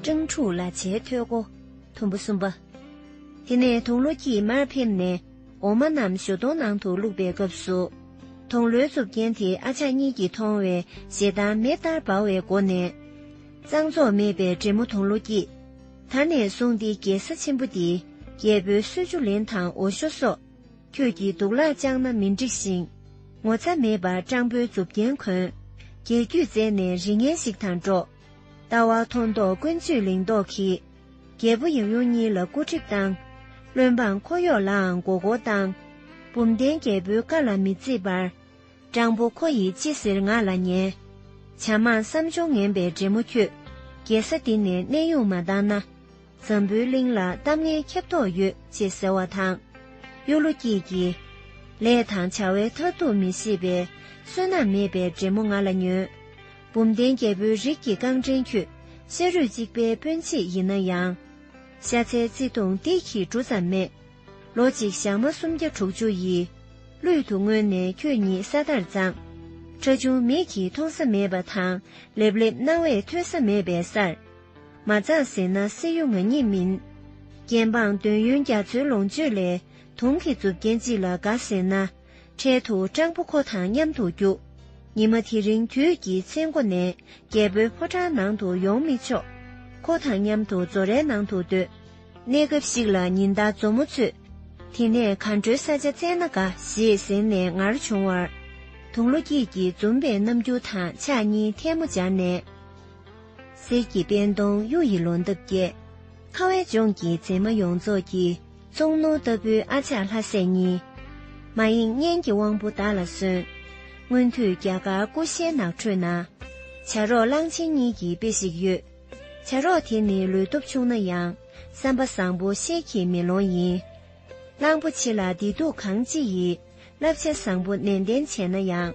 སྤྲང་ཕྲུག་ལ་བྱའི་ཐོད་སྒོ། དུམ་བུ་གསུམ་པ། དེ་ནས་དུང་ལོ་སྐྱིད་མར་ཕེབས་ནས་འོ་མ་རྣམས་ཞོ་སྟོང་ནང་དུ་བླུགས་པའི་སྐབས་སུ། དུང་ལོའི་གཙུབ་རྒྱན་དེ་ཨ་ཅག་གཉིས་ཀྱིས་མཐོང་བས་ཞེ་སྡང་མེ་ལྟར་འབར་བའི་སྒོ་ནས། གཙང་བཙོག་མེད་པའི་བགྲེས་མོ་དུང་ལོ་སྐྱིད། ད་ནས་བཟུང་འདི་རྒྱལ་ས་ཆེན་པོ་འདིའི་རྒྱལ་པོའི་གསོལ་ཆུ་ལེན་དང་འོ་ཞོ་སོགས། ཁྱོད་ཀྱིས་དུག་ལག་བཅངས་ན་མི་འགྲིགས་ཤིང། ངོ་ཚ་མེད་པར་སྤྲང་པོའི་མཛུབ་རྒྱན་གོན། རྒྱལ་རྒྱུད་རྩད་ནས་རི་ངན་ཞིག་དང་འགྲོགས། ལྟ་བ་མཐོ་མདོག་ཀུན་སྤྱོད་ལིང་མདོག་གིས། རྒྱལ་པོ་ཡབ་ཡུམ་གཉིས་ལ་སྐུ་ཁྲིབས་བཏང། བློན་འབངས་འཁོར་གཡོག་ལའང་མགོ་སྐོར་བཏང། བུམ་བརྟན་རྒྱལ་པོའི་བཀའ་ལ་མི་བརྩི་བར། སྤྲང་པོ་ཁོ་ཡིས་ཅི་ཟེར་ང་ལ་ཉན། བྱམས་མ་བསམ་བྱུང་ངན་པའི་འདྲེ་མོ་ཁྱོད། རྒྱལ་ས་འདི་ནས་གནས་དབྱུང་མ་བཏང་ན། འཛམ་བུའི་གླིང་ལ་གཏམ་ངན་ཁྱབ་དོགས་ཡོད་ཅེས་ཟེར་བ་དང། གཡུ་ལོ་སྐྱིད་ཀྱིས། ལས་དང་བྱ་བའི་མཐར་ཐུག་མི་ཤེས་པའི། བསོད་ནམས་མེད་པའི་འདྲེ་མོ་ང་ལ་ཉོན། བུམ་བརྟེན་རྒྱལ་པོའི་རིགས་ཀྱི་རྐང་འདྲེན་ཁྱོད། ཤ་རུས་གཅིག་པའི་སྤུན་མཆེད་ཡིན་ན་ཡང། ཤ་ཚའི་བརྩེ་དུང་སྡིག་གིས་འབྲུ་ཙམ་མེད། ལོ་གཅིག་ཞག་མ་སུམ་བརྒྱ་དྲུག་ཅུ་ཡི། གླུད་དུ་བསྔོས་ནས་ཁྱོད་ཉིད་ས་ལྟར་བརྫངས། ཁྲ་ཆུང་མིག་གིས་མཐོང་ས་མེད་པ་དང། ལེབ་ལེབ་རྣ་བས་ཐོས་ས་མེད་པའི་སར། མ་བཙགས་ཟེར་ན་སྲིད་གཡུ་ང་ཉིད་མིན། རྒྱལ་འབངས་འདོད་ཡོན་རྒྱ་མཚོའི་ལོངས་སྤྱོད་ལས་དུང་གི་མཛུབ་རྒྱན་གཅིག་ལ་དགའ་ཟེར་ན། འཕྲལ་དུ་སྤྲང་པོ་ཁོ་དང་མཉམ་དུ་རྒྱུག། ཉི་མ་དེ་རིང་དུས་ཀྱི་མཚན་མགོ་ནས་རྒྱལ་པོའི་ཕོ་བྲང་ནང་དུ་ཡོང་མི་ཆོག། ཁོ་དང་མཉམ་དུ་མཛོ་རའི་ནང་དུ་སྡོད། གནས་སྐབས་ཤིག་ལ་ཉི་ཟླ་མཛོ་མོ་ཚོས། དེ་ནས་ག་འགྲོའི་ས་ཆ་བཙལ་ན་དགའ་ཞེས་ཟེར་ནས་ངར་བྱུང་བར། དུང་ལོ་སྐྱིད་ཀྱིས་འཛུམ་པའི་རྣམ་འགྱུར་དང་ཕྱག་གཉིས་ཐལ་མོ་སྦྱར་ནས། གསེར་གྱི་པད་འདོང་གཡུ་ཡི་ལོ་འདབ་རྒྱས། ཁ་བའི་ལྗོངས་ཀྱི་མཛེས་མ་ཡོངས་རྫོགས་ཀྱི། ཙོང་ནུ་ལྟ་བུའི་ཨ་ཅག་ལྷ་སྲས་གཉིས། མ་ཡེངས་གཉེན་གྱི་དབང་པོ་བདག་ལ་གསོན། སྔོན་དུས་རྒྱ་གར་ཀུ་ཤའི་ནགས་ཁྲོད་ན། བྱ་རོག་གླང་ཆེན་གཉིས་ཀྱི་དཔེ་ཞིག་ཡོད། བྱ་རོག་དེ་ནི་ལུས་སྟོབས་ཆུང་ན་ཡང། བསམ་པ་བཟང་པོ་ཤེལ་གྱི་མེ་ལོང་ཡིན། གླང་པོ་ཆེ་ལ་བདེ་སྡུག་གང་ཅི་ཡི། བསླབ་བྱ་བཟང་པོ་ནན་ཏན་བྱས་ན་ཡང།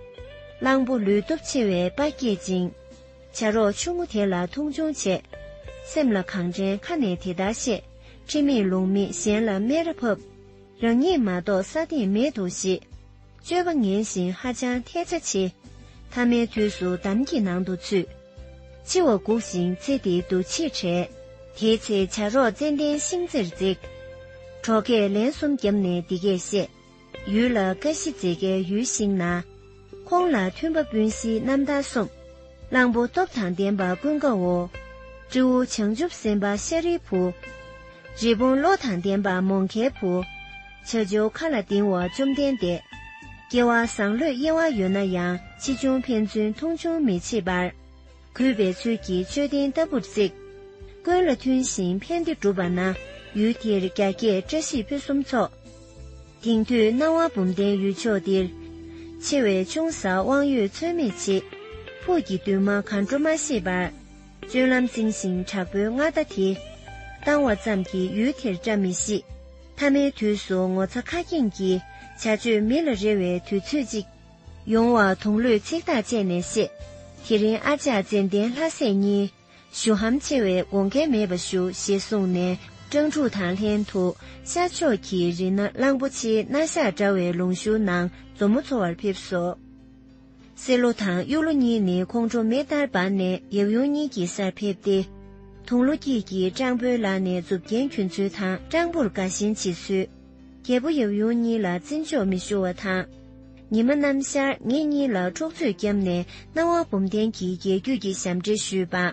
གླང་པོ་ལུས་སྟོབས་ཆེ་བས་དཔའ་བསྐྱེད་ཅིང། བྱ་རོག་ཆུང་ངུ་དེ་ལ་མཐོང་ཆུང་བྱས། སེམས་ལ་གང་དྲན་ཁ་ནས་དེ་ལྟར་བཤད། ཁྲི་མེད་ལུང་མེད་གཞན་ལ་སྨད་ར་ཕབ། རང་ཉིད་མ་གཏོགས་ས་སྟེང་མེད་འདུག་ཞེས། སྤྱོད་པ་ངན་ཞིང་ཧ་ཅང་ཐལ་ཆ་ཆེ། ཐ་མའི་དུས་སུ་འདམ་གྱི་ནང་དུ་ཚུད། འཆི་བ་འགུགས་ཤིང་ཚེ་འདི་འདུ་བྱེད་བྲལ། དེའི་ཚེ་བྱ་རོག་ཙན་དན་ཤིང་རྩེར་འཛེགས། གྲོགས་ཁས་ལེན་གསུམ་བརྒྱབ་ནས་འདི་སྐད་བཤད། ཡུལ་ལ་ཀ་བཞི་མཛེས་དགའི་ཡུལ་ཞིག་ན། ཁོང་ལ་མཐུན་པ་སྤུན་བཞིའི་རྣམ་ཐར་གསུངས། གླང་པོ་སྟོབས་དང་ལྡན་པ་ཀུན་དགའ་བོ། སྤྲེའུ་བྱང་ཆུབ་སེམས་དཔའ་ཤཱ་རིའི་བུ། རི་བོང་བློ་དང་ལྡན་པ་མོང་ཁའི་བུ། བྱ་བྱེའུ་མཁའ་ལ་ལྡིང་བ་བཅོམ་ལྡན་འདས། སྐྱེ་བ་བཟང་བློས་དབྱེ་བ་ཡོད་ན་ཡང་ཕྱིས་བྱུང་ཕན་ཚུན་མཐོང་ཆུང་མི་བྱེད་པར། གུས་པའི་ཚུལ་གྱིས་མཆོད་རྟེན་ལྟ་བུར་བརྩིག། ཀུན་ལ་མཐུན་ཞིང་ཕན་བདེ་སྒྲུབ་པ་ན། ཡུལ་འདིར་རྒྱ་སྐྱེགས་བཀྲ་ཤིས་ཕུན་སུམ་ཚོགས། དེང་དུས་སྣང་བ་འབུམ་ལྡན་ཡུལ་མཆོག་འདིར། ཆེ་བའི་ཆུང་ས་དབང་ཡོད་ཚོད་མེད་ཆེ། ཕུགས་ཀྱི་འདུན་མ་གར་འགྲོ་མ་ཤེས་པར། སྤྱོད་ལམ་རྩིང་ཞིང་དྲག་པོའི་མངའ་བདག་དེ། བཏང་བ་ཙམ་གྱིས་ཡུལ་དེར་བཀྲ་མི་ཤིས། མཐའ་མའི་དུས་སུ་ངོ་ཚ་ཁ་སྐྱེངས་ཀྱིས། བྱ་སྤྱོད་མི་ལ་རེ་བའི་དུས་ཚོད་ཅིག། ཡོང་བ་དུང་ལོས་ཚིག་ཐག་བཅད་ནས་བཤད། དེ་རིང་ཨ་ཅག་ཙན་དན་ལྷ་སྲས་གཉིས། ཞུ་ཧམ་ཆེ་བས་དགོངས་འགལ་མེད་པ་ཞུ་ཞེས་གསུངས་ནས་སྤྲང་ཕྲུག་དང་ལྷན་དུ་ཤར་ཕྱོགས་ཀྱི་རི་ན་གླང་པོ་ཆེའི་སྣ་ཞག་འདྲ་བའི་ལུང་ཤུར་ནང་མཛོ་མོ་འཚོ་བར་ཕེབས་སོ། སེར་ལོ་དང་གཡུ་ལོ་གཉིས་ནི་ཁོང་ཁྲོ་མེ་ལྟར་འབར་ནས་ཡབ་ཡུམ་གཉིས་ཀྱི་སར་ཕེབས་ཏེ། དུང་ལོ་སྐྱིད་ཀྱིས་སྤྲང་པོའི་ལག་ནས་མཛུབ་རྒྱན་གྱོན་ཚུལ་དང་སྤྲང་པོར་དགའ་ཞེན་བྱེད་ཚུལ། རྒྱལ་པོ་ཡབ་ཡུམ་གཉིས་ལ་བརྩི་འཇོག་མི་ཞུ་བ་དང། ཉི་མ་ནམ་ཞར་ངེད་གཉིས་ལ་འཕྲོག་རྩོད་བརྒྱབ་ནས་སྣང་བ་འབུམ་ལྡན་གྱི་རྒྱལ་རྒྱུད་ཀྱི་ཞབས་འདྲེན་ཞུས་པ།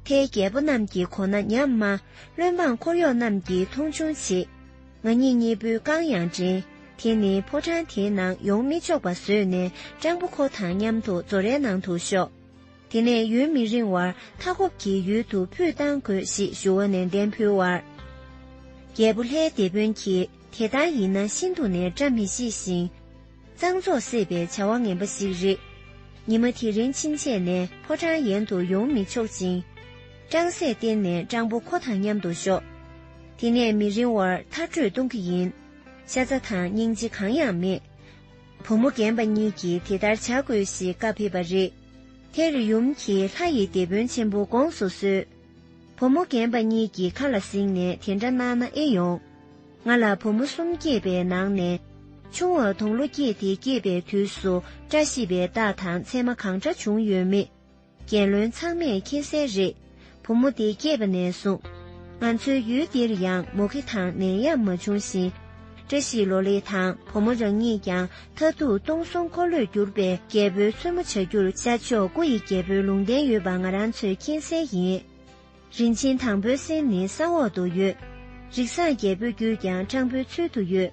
དེས་རྒྱལ་པོ་རྣམས་ཀྱི་གོ་ན་ཉམས་དམའ། བློན་འབངས་འཁོར་གཡོག་རྣམས་ཀྱིས་མཐོང་ཆུང་བྱེད། ང་གཉིས་གཉིས་པོའི་རྐང་ཡང་འདྲེན། དེ་ནི་ཕོ་བྲང་དེའི་ནང་ཡོང་མི་ཆོག་པ་བཟོས་ནས་སྤྲང་པོ་ཁོ་དང་མཉམ་དུ་ཛོ་རའི་ནང་དུ་ཤོག། དེ་ནས་ཡུན་མི་རིང་བར་མཐའ་འཁོབ་ཀྱི་ཡུལ་དུ་ཕུད་གཏང་དགོས་ཞེས་ཞུ་བ་ནན་ཏན་ཕུལ་བར། རྒྱལ་པོ་ལྷའི་སྡེ་དཔོན་གྱིས་དེ་ལྟར་ཡིན་ན་ཤིན་ཏུ་ནས་བཀྲ་མི་ཤིས་ཤིང། གཙང་བཙོག་སེལ་བའི་བྱ་བ་ངན་པ་ཞིག་རེད། ཉི་མ་དེ་རིང་ཕྱིན་ཆད་ནས་ཕོ་བྲང་ཡན་དུ་ཡོང་མི་ཆོག་ཅིང། སྤྲང་སྲས་བསྟེན་ནས་སྤྲང་པོ་ཁོ་དང་མཉམ་དུ་ཞོག། དེ་ནས་མི་རིང་བར་མཐར་བྲོས་གཏོང་གི་ཡིན། ཤ་ཚ་དང་སྙིང་རྗེ་གང་ཡང་མེད། བུ་མོ་རྒན་པ་གཉིས་ཀྱིས་དེ་ལྟར་བྱ་དགོས་ཞེས་བཀའ་ཕེབས་པ་རེད། དེར་ཡུམ་གྱིས་ལྷ་ཡི་སྡེ་དཔོན་ཆེན་པོ་དགོངས་སུ་གསོལ། བུ་མོ་རྒན་པ་གཉིས་ཀྱི་ཁ་ལ་གཟིགས་ནས་དེ་འདྲ་གནང་ན་ཨེ་ཡོང། ང་ལ་བུ་མོ་གསུམ་སྐྱེས་པའི་ནང་ནས། ཆུང་བ་དུང་ལོ་སྐྱེས་དེ་སྐྱེས་པའི་དུས་སུ་བཀྲ་ཤིས་པའི་རྟགས་དང་མཚན་མ་གང་འདྲ་བྱུང་ཡོད་མེད། རྒྱལ་བློན་ཚང་མས་མཁྱེན་གསལ་རེད། བུ་མོ་འདི་སྐྱེས་པ་ནས་བཟུང། ང་ཚོའི་ཡུལ་འདིར་ཡང་མུ་གེ་དང་ནད་ཡམས་མ་བྱུང་ཞིང། བཀྲ་ཤིས་ལོ་ལེགས་དང་བུ་མོ་རང་ཉིད་ཀྱང་མཐའ་ཐུག་སྟོང་གསུམ་འཁོར་ལོས་བསྒྱུར་པའི་རྒྱལ་པོའི་བཙུན་མོ་བྱ་རྒྱུར་ཤར་ཕྱོགས་སྐུ་ཡི་རྒྱལ་པོའི་ལུང་བསྟན་ཡོད་པ་ང་རང་ཚོས་མཁྱེན་གསལ་ཡིན། རིན་ཆེན་དང་པོའི་སེམས་ནི་ས་འོག་ཏུ་ཡོད། རིགས་བཟང་རྒྱལ་པོའི་རྒྱུད་ཀྱང་སྤྲང་པོའི་ཚུལ་དུ་ཡོད།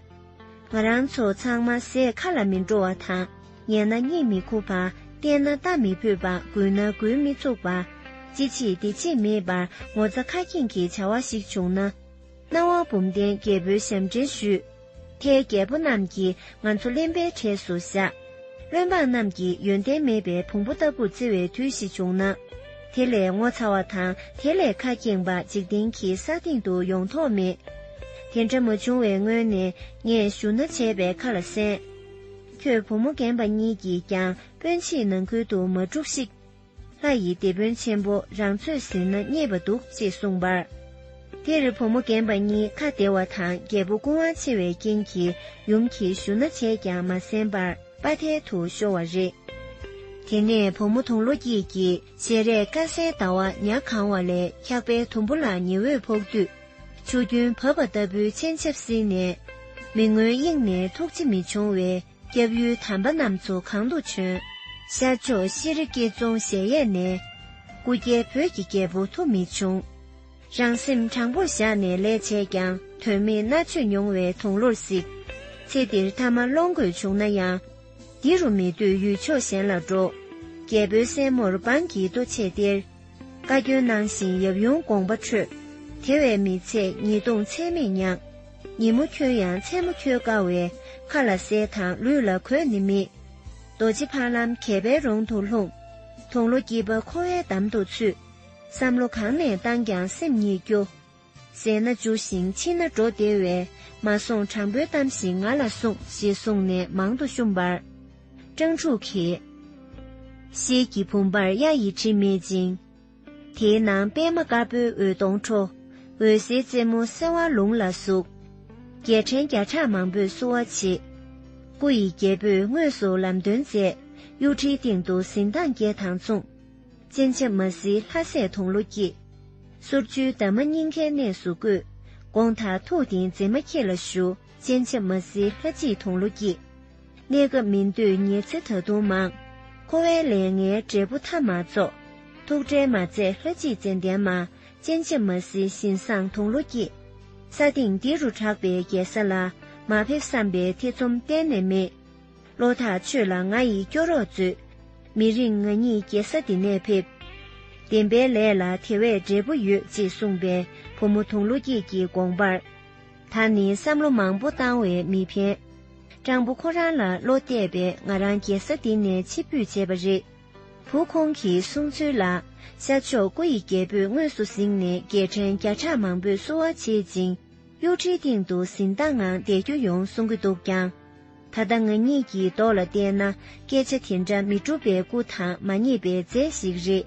ང་རང་ཚོ་ཚང་མ་ཟས་ཁ་ལ་མི་འགྲོ་བ་དང་ཉལ་ན་གཉིད་མི་ཁུག་པ་བལྟས་ན་ལྟ་མི་ཕོད་པ་འགུལ་ན་འགུལ་མི་ཚུགས་པ། ཅི་བྱེད་འདི་བྱེད་མེད་པར་ངོ་ཚ་ཁ་སྐྱེངས་ཀྱི་བྱ་བ་ཞིག་བྱུང་ན། སྣང་བ་བུམ་ལྡན་རྒྱལ་པོའི་ཞབས་འདྲེན་ཞུས། ལྷའི་རྒྱལ་པོ་རྣམས་ཀྱིས་ང་ཚོ་གླེན་པའི་གྲས་སུ་བཞག། བློན་འབངས་རྣམས་ཀྱིས་ཡོན་ཏན་མེད་པའི་བོང་བུ་ལྟ་བུར་བརྩི་བའི་དུས་ཤིག་བྱུང་ན། དེ་ལས་ངོ་ཚ་བ་དང་དེ་ལས་ཁ་སྐྱེངས་པ་འཇིག་རྟེན་གྱི་ས་སྟེང་དུ་ཡོང་དོགས་མེད། དེ་འདྲ་མ་བྱུང་བའི་སྔོན་ནས་ངས་ཞུ་ན་བྱས་པའི་ཁ་ལ་གསན། ཁྱོད་བུ་མོ་རྒན་པ་གཉིས་ཀྱིས་ཀྱང་སྤོན་ཕྱིས་ནང་ཁུལ་དུ་མ་བསྒྲུགས་ཤིག། ལྷ་ཡི་སྡེ་དཔོན་ཆེན་པོ་རང་ཚོད་ཟིན་ན་རྙེད་པ་འདུག་ཅེས་གསུངས་པར། དེར་བུ་མོ་རྒན་པ་གཉིས་ཁ་བདེ་བ་དང་རྒྱལ་པོ་སྐུ་དབང་ཆེ་བའི་རྐྱེན་གྱིས་ཡུམ་གྱིས་བཞུ་ན་བྱས་ཀྱང་མ་གསན་པར་དཔའ་མཐལ་དུ་ཤོར་བ་རེད། དེ་ནས་བུ་མོ་དུང་ལོ་སྐྱིད་ཀྱིས་ཞལ་རས་དཀར་གསལ་ཟླ་བ་ཉག་གང་བ་ལས་འཁྱག་པའི་དུམ་བུ་ལ་ཉི་འོད་ཕོག་དུས། ཆུ་རྒྱུན་བབས་པ་ལྟ་བུའི་མཆན་ཆབ་བསིལ་ནས། མི་མངོན་དབྱིངས་ནས་ཐུགས་རྗེ་མི་འབྱུང་བའི། སྐྱབས་ཡུལ་དམ་པ་རྣམས་ཚོ་གང་དུ་བྱོན། ཤར་ཕྱོགས་ཤེས་རིག་དགེ་རྫོང་གཞལ་ཡས་ནས། སྐུ་སྐྱེ་བོད་ཀྱི་རྒྱལ་པོ་ཐུབ་མི་ཆུང། རང་སེམས་དྲང་པོར་བཞག་ནས་ལས་བྱས་ཀྱང་དོན་མེད་མནར་གཅོད་མྱོང་བའི་དུང་ལོར་གཟིགས། ཚེ་འདིར་མཐའ་མ་སློང་དགོས་བྱུང་ན་ཡང། འདི་རུ་མི་སྡོད་ཡུལ་ཕྱོགས་གཞན་ལ་འགྲོ། རྒྱལ་པོའི་སྲས་མོར་འབངས་ཀྱིས་ལྟོ་ཆས་སྟེར། བཀའ་བཀྱོན་གནང་བཞིན་ཡབ་ཡུམ་དགོངས་པ་འཕྲོད། དེ་བས་མི་ཚེ་ཉིས་སྟོང་ཚད་མེད་མྱངས། ཉིན་མོ་ཁྱོད་ཡང་མཚན་མོ་ཁྱོད་དགའ་བའི་མཁའ་ལ་གསལ་དང་ལུས་ལ་གོས་ནི་མེད། རྡོ་རྗེ་འཕགས་ལམ་གད་པའི་རོང་དུ་ལྷུང། དུང་ལོ་སྐྱིད་པ་འཁོར་བའི་འདམ་དུ་ཚུད། བསམ་བློ་གང་ནས་བཏང་ཀྱང་སེམས་ཉིད་སྐྱོ། ཟད་ན་འཇུ་ཞིང་འཆི་ན་འགྲོ་བདེ་བས་མ་སོང་དྲང་པོའི་གཏམ་ཞིག་ང་ལ་གསུངས་ཞེས་གསུངས་ནས་མང་དུ་བཤུམས་པར། སྤྲང་ཕྲུག་གིས། ཤེལ་གྱི་བུམ་པར་གཡའ་ཡི་དྲི་མེད་ཅིང། དེའི་ནང་པད་མ་དཀར་པོའི་འོད་སྟོང་འཕྲོ། འོད་ཟེར་རྩེ་མོ་གསལ་བ་ལུང་ལ་ཟུག། རྒྱལ་ཕྲན་བརྒྱ་ཕྲག་མང་པོས་བསུ་བ་བྱེད། སྐུ་ཡི་རྒྱལ་པོས་དངོས་སུ་ལམ་སྟོན་མཛད། གཡུ་ཁྲིའི་སྟེང་དུ་གཟི་མདངས་བརྒྱད་དང་མཚུངས། སྤྱན་ཆབ་མ་གཟི་ལྷ་སྲས་དུང་ལོ་སྐྱེས། གསུར་ཆུའི་འདབ་མ་སྙིང་ཁའི་གནས་སུ་བཀོད། དགོངས་དག་ཐུགས་ཏིང་འཛིན་མ་ཁྱེད་ལ་ཞུ། སྤྱན་ཆབ་མ་གཟི་ལྷ་གཅིག་དུང་ལོ་སྐྱེས། གནས་སྐབས་མི་འདོད་ཉེར་འཚེ་ད་དུང་མང། འཁོར་བའི་ལས་ངན་འབྲས་བུ་མཐའ་མ་རྫོགས། ཐུགས་ཁྲལ་མ་མཛད་ལྷ་གཅིག་མཚན་ལྡན་མ། སྤྱན་ཆབ་མ་གཟིགས་བཞིན་བཟང་དུང་ལོ་སྐྱེས། ས་སྟེང་འདི་རུ་གྲགས་པའི་རྒྱལ་ས་ལ། མ་ཕེབས་བསམ་པའི་ཐེ་ཚོམ་གཏན་ནས་མེད། བློ་ཐག་ཆོད་ལ་ང་ཡིས་སྐྱོ་རོགས་མཛོད། མི་རིང་ང་ཉིད་རྒྱལ་ས་འདི་ནས་ཕེབས། བདེན་པའི་ལས་ལ་དེ་བས་འབྲས་བུ་ཡོད་ཅེས་གསུངས་པའི་བུ་མོ་དུང་ལོ་སྐྱེས་ཀྱི་དགོངས་པར། ད་ནི་བསམ་བློ་མང་པོ་བཏང་བས་མི་ཕན། སྤྲང་པོ་ཁོ་རང་ལ་བློ་གཏད་པས་ང་རང་རྒྱལ་ས་འདི་ནས་ཕྱིར་འབུད་བྱས་པ་རེད། བུ་ཁོང་གི་གསུང་ཚུལ་ལ། ཤར་ཕྱོགས་སྐུ་ཡི་རྒྱལ་པོས་དངོས་སུ་གཟིགས་ནས་རྒྱལ་ཕྲན་བརྒྱ་ཕྲག་མང་པོས་བསུ་བ་བྱེད་ཅིང་གཡོ་ཁྲིའི་སྟེང་དུ་གཟི་མདངས་ངང་བསྡད་རྒྱུ་ཡོང་གསུང་གི་འདུག་ཀྱང། ད་ལྟ་ང་གཉིས་ཀྱི་མདོག་ལ་བལྟས་ན་སྐད་ཆ་དེ་འདྲ་མི་འགྲུབ་པའི་སྐུ་དང་མ་ངེས་པའི་མཛད་ཞིག་རེད།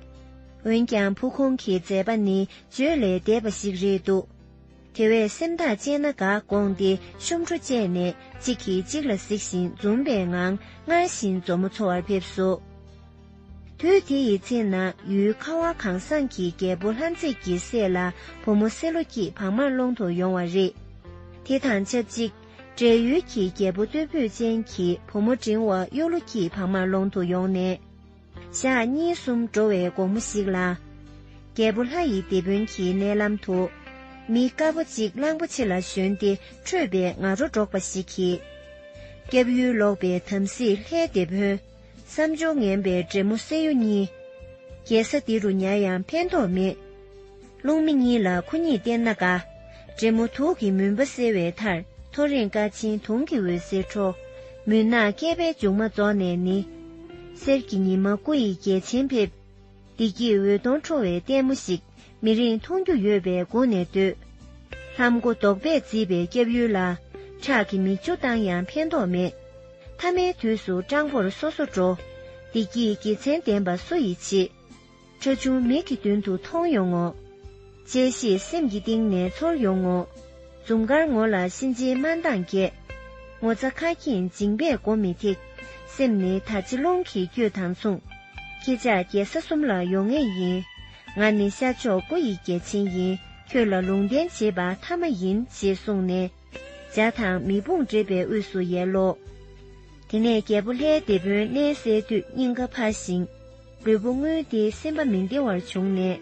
འོན་ཀྱང་བུ་ཁོང་གི་མཛད་པ་ནི་བརྗོད་ལས་འདས་པ་ཞིག་རེད་འདུག། དེ་བས་སེམས་ཐག་བཅད་ན་དགའ་དགོངས་ཏེ་གཤོམ་བྲོ་བཅས་ནས་གཅིག་གིས་གཅིག་ལ་གཟིགས་ཤིང་འཛུམ་པའི་ངང་སྔར་བཞིན་མཛོ་མོ་འཚོ་བར་ཕེབས་སོ། དུས་དེ་ཡི་ཚེ་ན་ཡུལ་ཁ་བ་གང་བཟང་གི་རྒྱལ་པོ་ལྷ་མཛེས་ཀྱི་སྲས་ལ་བུ་མོ་སེ་ལོ་སྐྱིད་བག་མར་སློང་དུ་ཡོང་བ་རེད། དེ་དང་ཆབས་ཅིག་བགྲེས་ཡོལ་གྱི་རྒྱལ་པོ་སྟོད་བུ་ཅན་གྱི་བུ་མོ་འབྲིང་བ་གཡུ་ལོ་སྐྱིད་བག་མར་སློང་དུ་ཡོང་ནས། ཞག་གཉིས་གསུམ་འགྲོ་བའི་དགོང་མོ་ཞིག་ལ། རྒྱལ་པོ་ལྷ་ཡི་སྡེ་དཔོན་གྱི་མནལ་ལམ་དུ། མི་དཀར་པོ་གཅིག་གླང་པོ་ཆེ་ལ་ཞོན་ཏེ་ཁྲོས་པའི་ང་རོ་སྒྲོག་པ་ཞིག་གིས། སྐྱབས་ཡུལ་ལོག་པའི་དམ་སྲི་ལྷའི་སྡེ་དཔོན། བསམ་སྦྱོར་ངན་པའི་བྲན་མོ་སྲེ་ཡུ་གཉིས། རྒྱལ་ས་འདི་རུ་ཉར་ཡང་ཕན་ཐོགས་མེད། རླུང་མེ་གཉིས་ལ་ཁུ་གཉིས་བསྟེན་ན་དགའ། འབྲས་མོ་དུག་གི་མུན་པ་སེལ་བའི་མཐར་ཐོ་རེངས་ཀ་ཆིང་དུང་གི་འོད་ཟེར་འཕྲོ། མུན་ནག་བསྐལ་པའི་མཇུག་མ་རྫོགས་ནས་ནི། གསེར་གྱི་ཉི་མ་སྐུ་ཡི་རྒྱལ་ཆེན་ཕེབས། བདེ་སྐྱིད་འོད་སྟོང་འཕྲོ་བའི་ལྟད་མོ་ཞིག་མི་རིང་མཐོང་རྒྱུ་ཡོད་པས་དགུང་ནས་སྡོད། ལྷམ་མགོ་རྡོག་པས་བརྫིས་པའི་སྐྱབས་ཡུལ་ལ། ཁྲག་གི་མིག་ཆུ་བཏང་ཡང་ཕན་ཐོགས་མེད། ཐ་མའི་དུས་སུ་སྤྲང་པོར་སོ་སོ་འགྲོ། བདེ་སྐྱིད་དགེ་མཚན་ལྡན་པ་སུ་ཡིས་བྱེད། ཁྲ་ཆུང་མིག་གི་མདུན་དུ་མཐོང་ཡོང་ངོ། དཔྱད་ཤེས་སེམས་ཀྱི་གཏིང་ནས་ཚོར་ཡོང་ངོ། འཛུམ་དཀར་ངོ་ལ་གཤིན་རྗེའི་དམར་མདངས་རྒྱས། ངོ་ཚ་ཁ་སྐྱེངས་མཇིང་པས་མགོ་མི་ཐེག། སེམས་ནི་ད་ཅི་རླུང་གིས་བསྐྱོད་དང་མཚུངས། ཁྱེད་ཅག་རྒྱལ་ས་གསུམ་ལ་ཡོང་ངེས་ཡིན། ང་ནི་ཤར་ཕྱོགས་སྐུ་ཡི་རྒྱལ་ཆེན་ཡིན། ཁྱོད་ལ་ལུང་བསྟན་བྱེད་པ་མཐའ་མ་ཡིན་ཞེས་གསུངས་ནས། འཇའ་དང་མེ་དཔུང་འདྲེས་པའི་དབུས་སུ་ཡལ་ལོ། དེ་ནས་རྒྱལ་པོ་ལྷའི་སྡེ་དཔོན་གནས་གསལ་དུས་སྙིང་ག་འཕར་ཞིང། ལུས་པོ་རྔུལ་ཏེ་སེམས་པ་མི་བདེ་བར་བྱུང་ནས།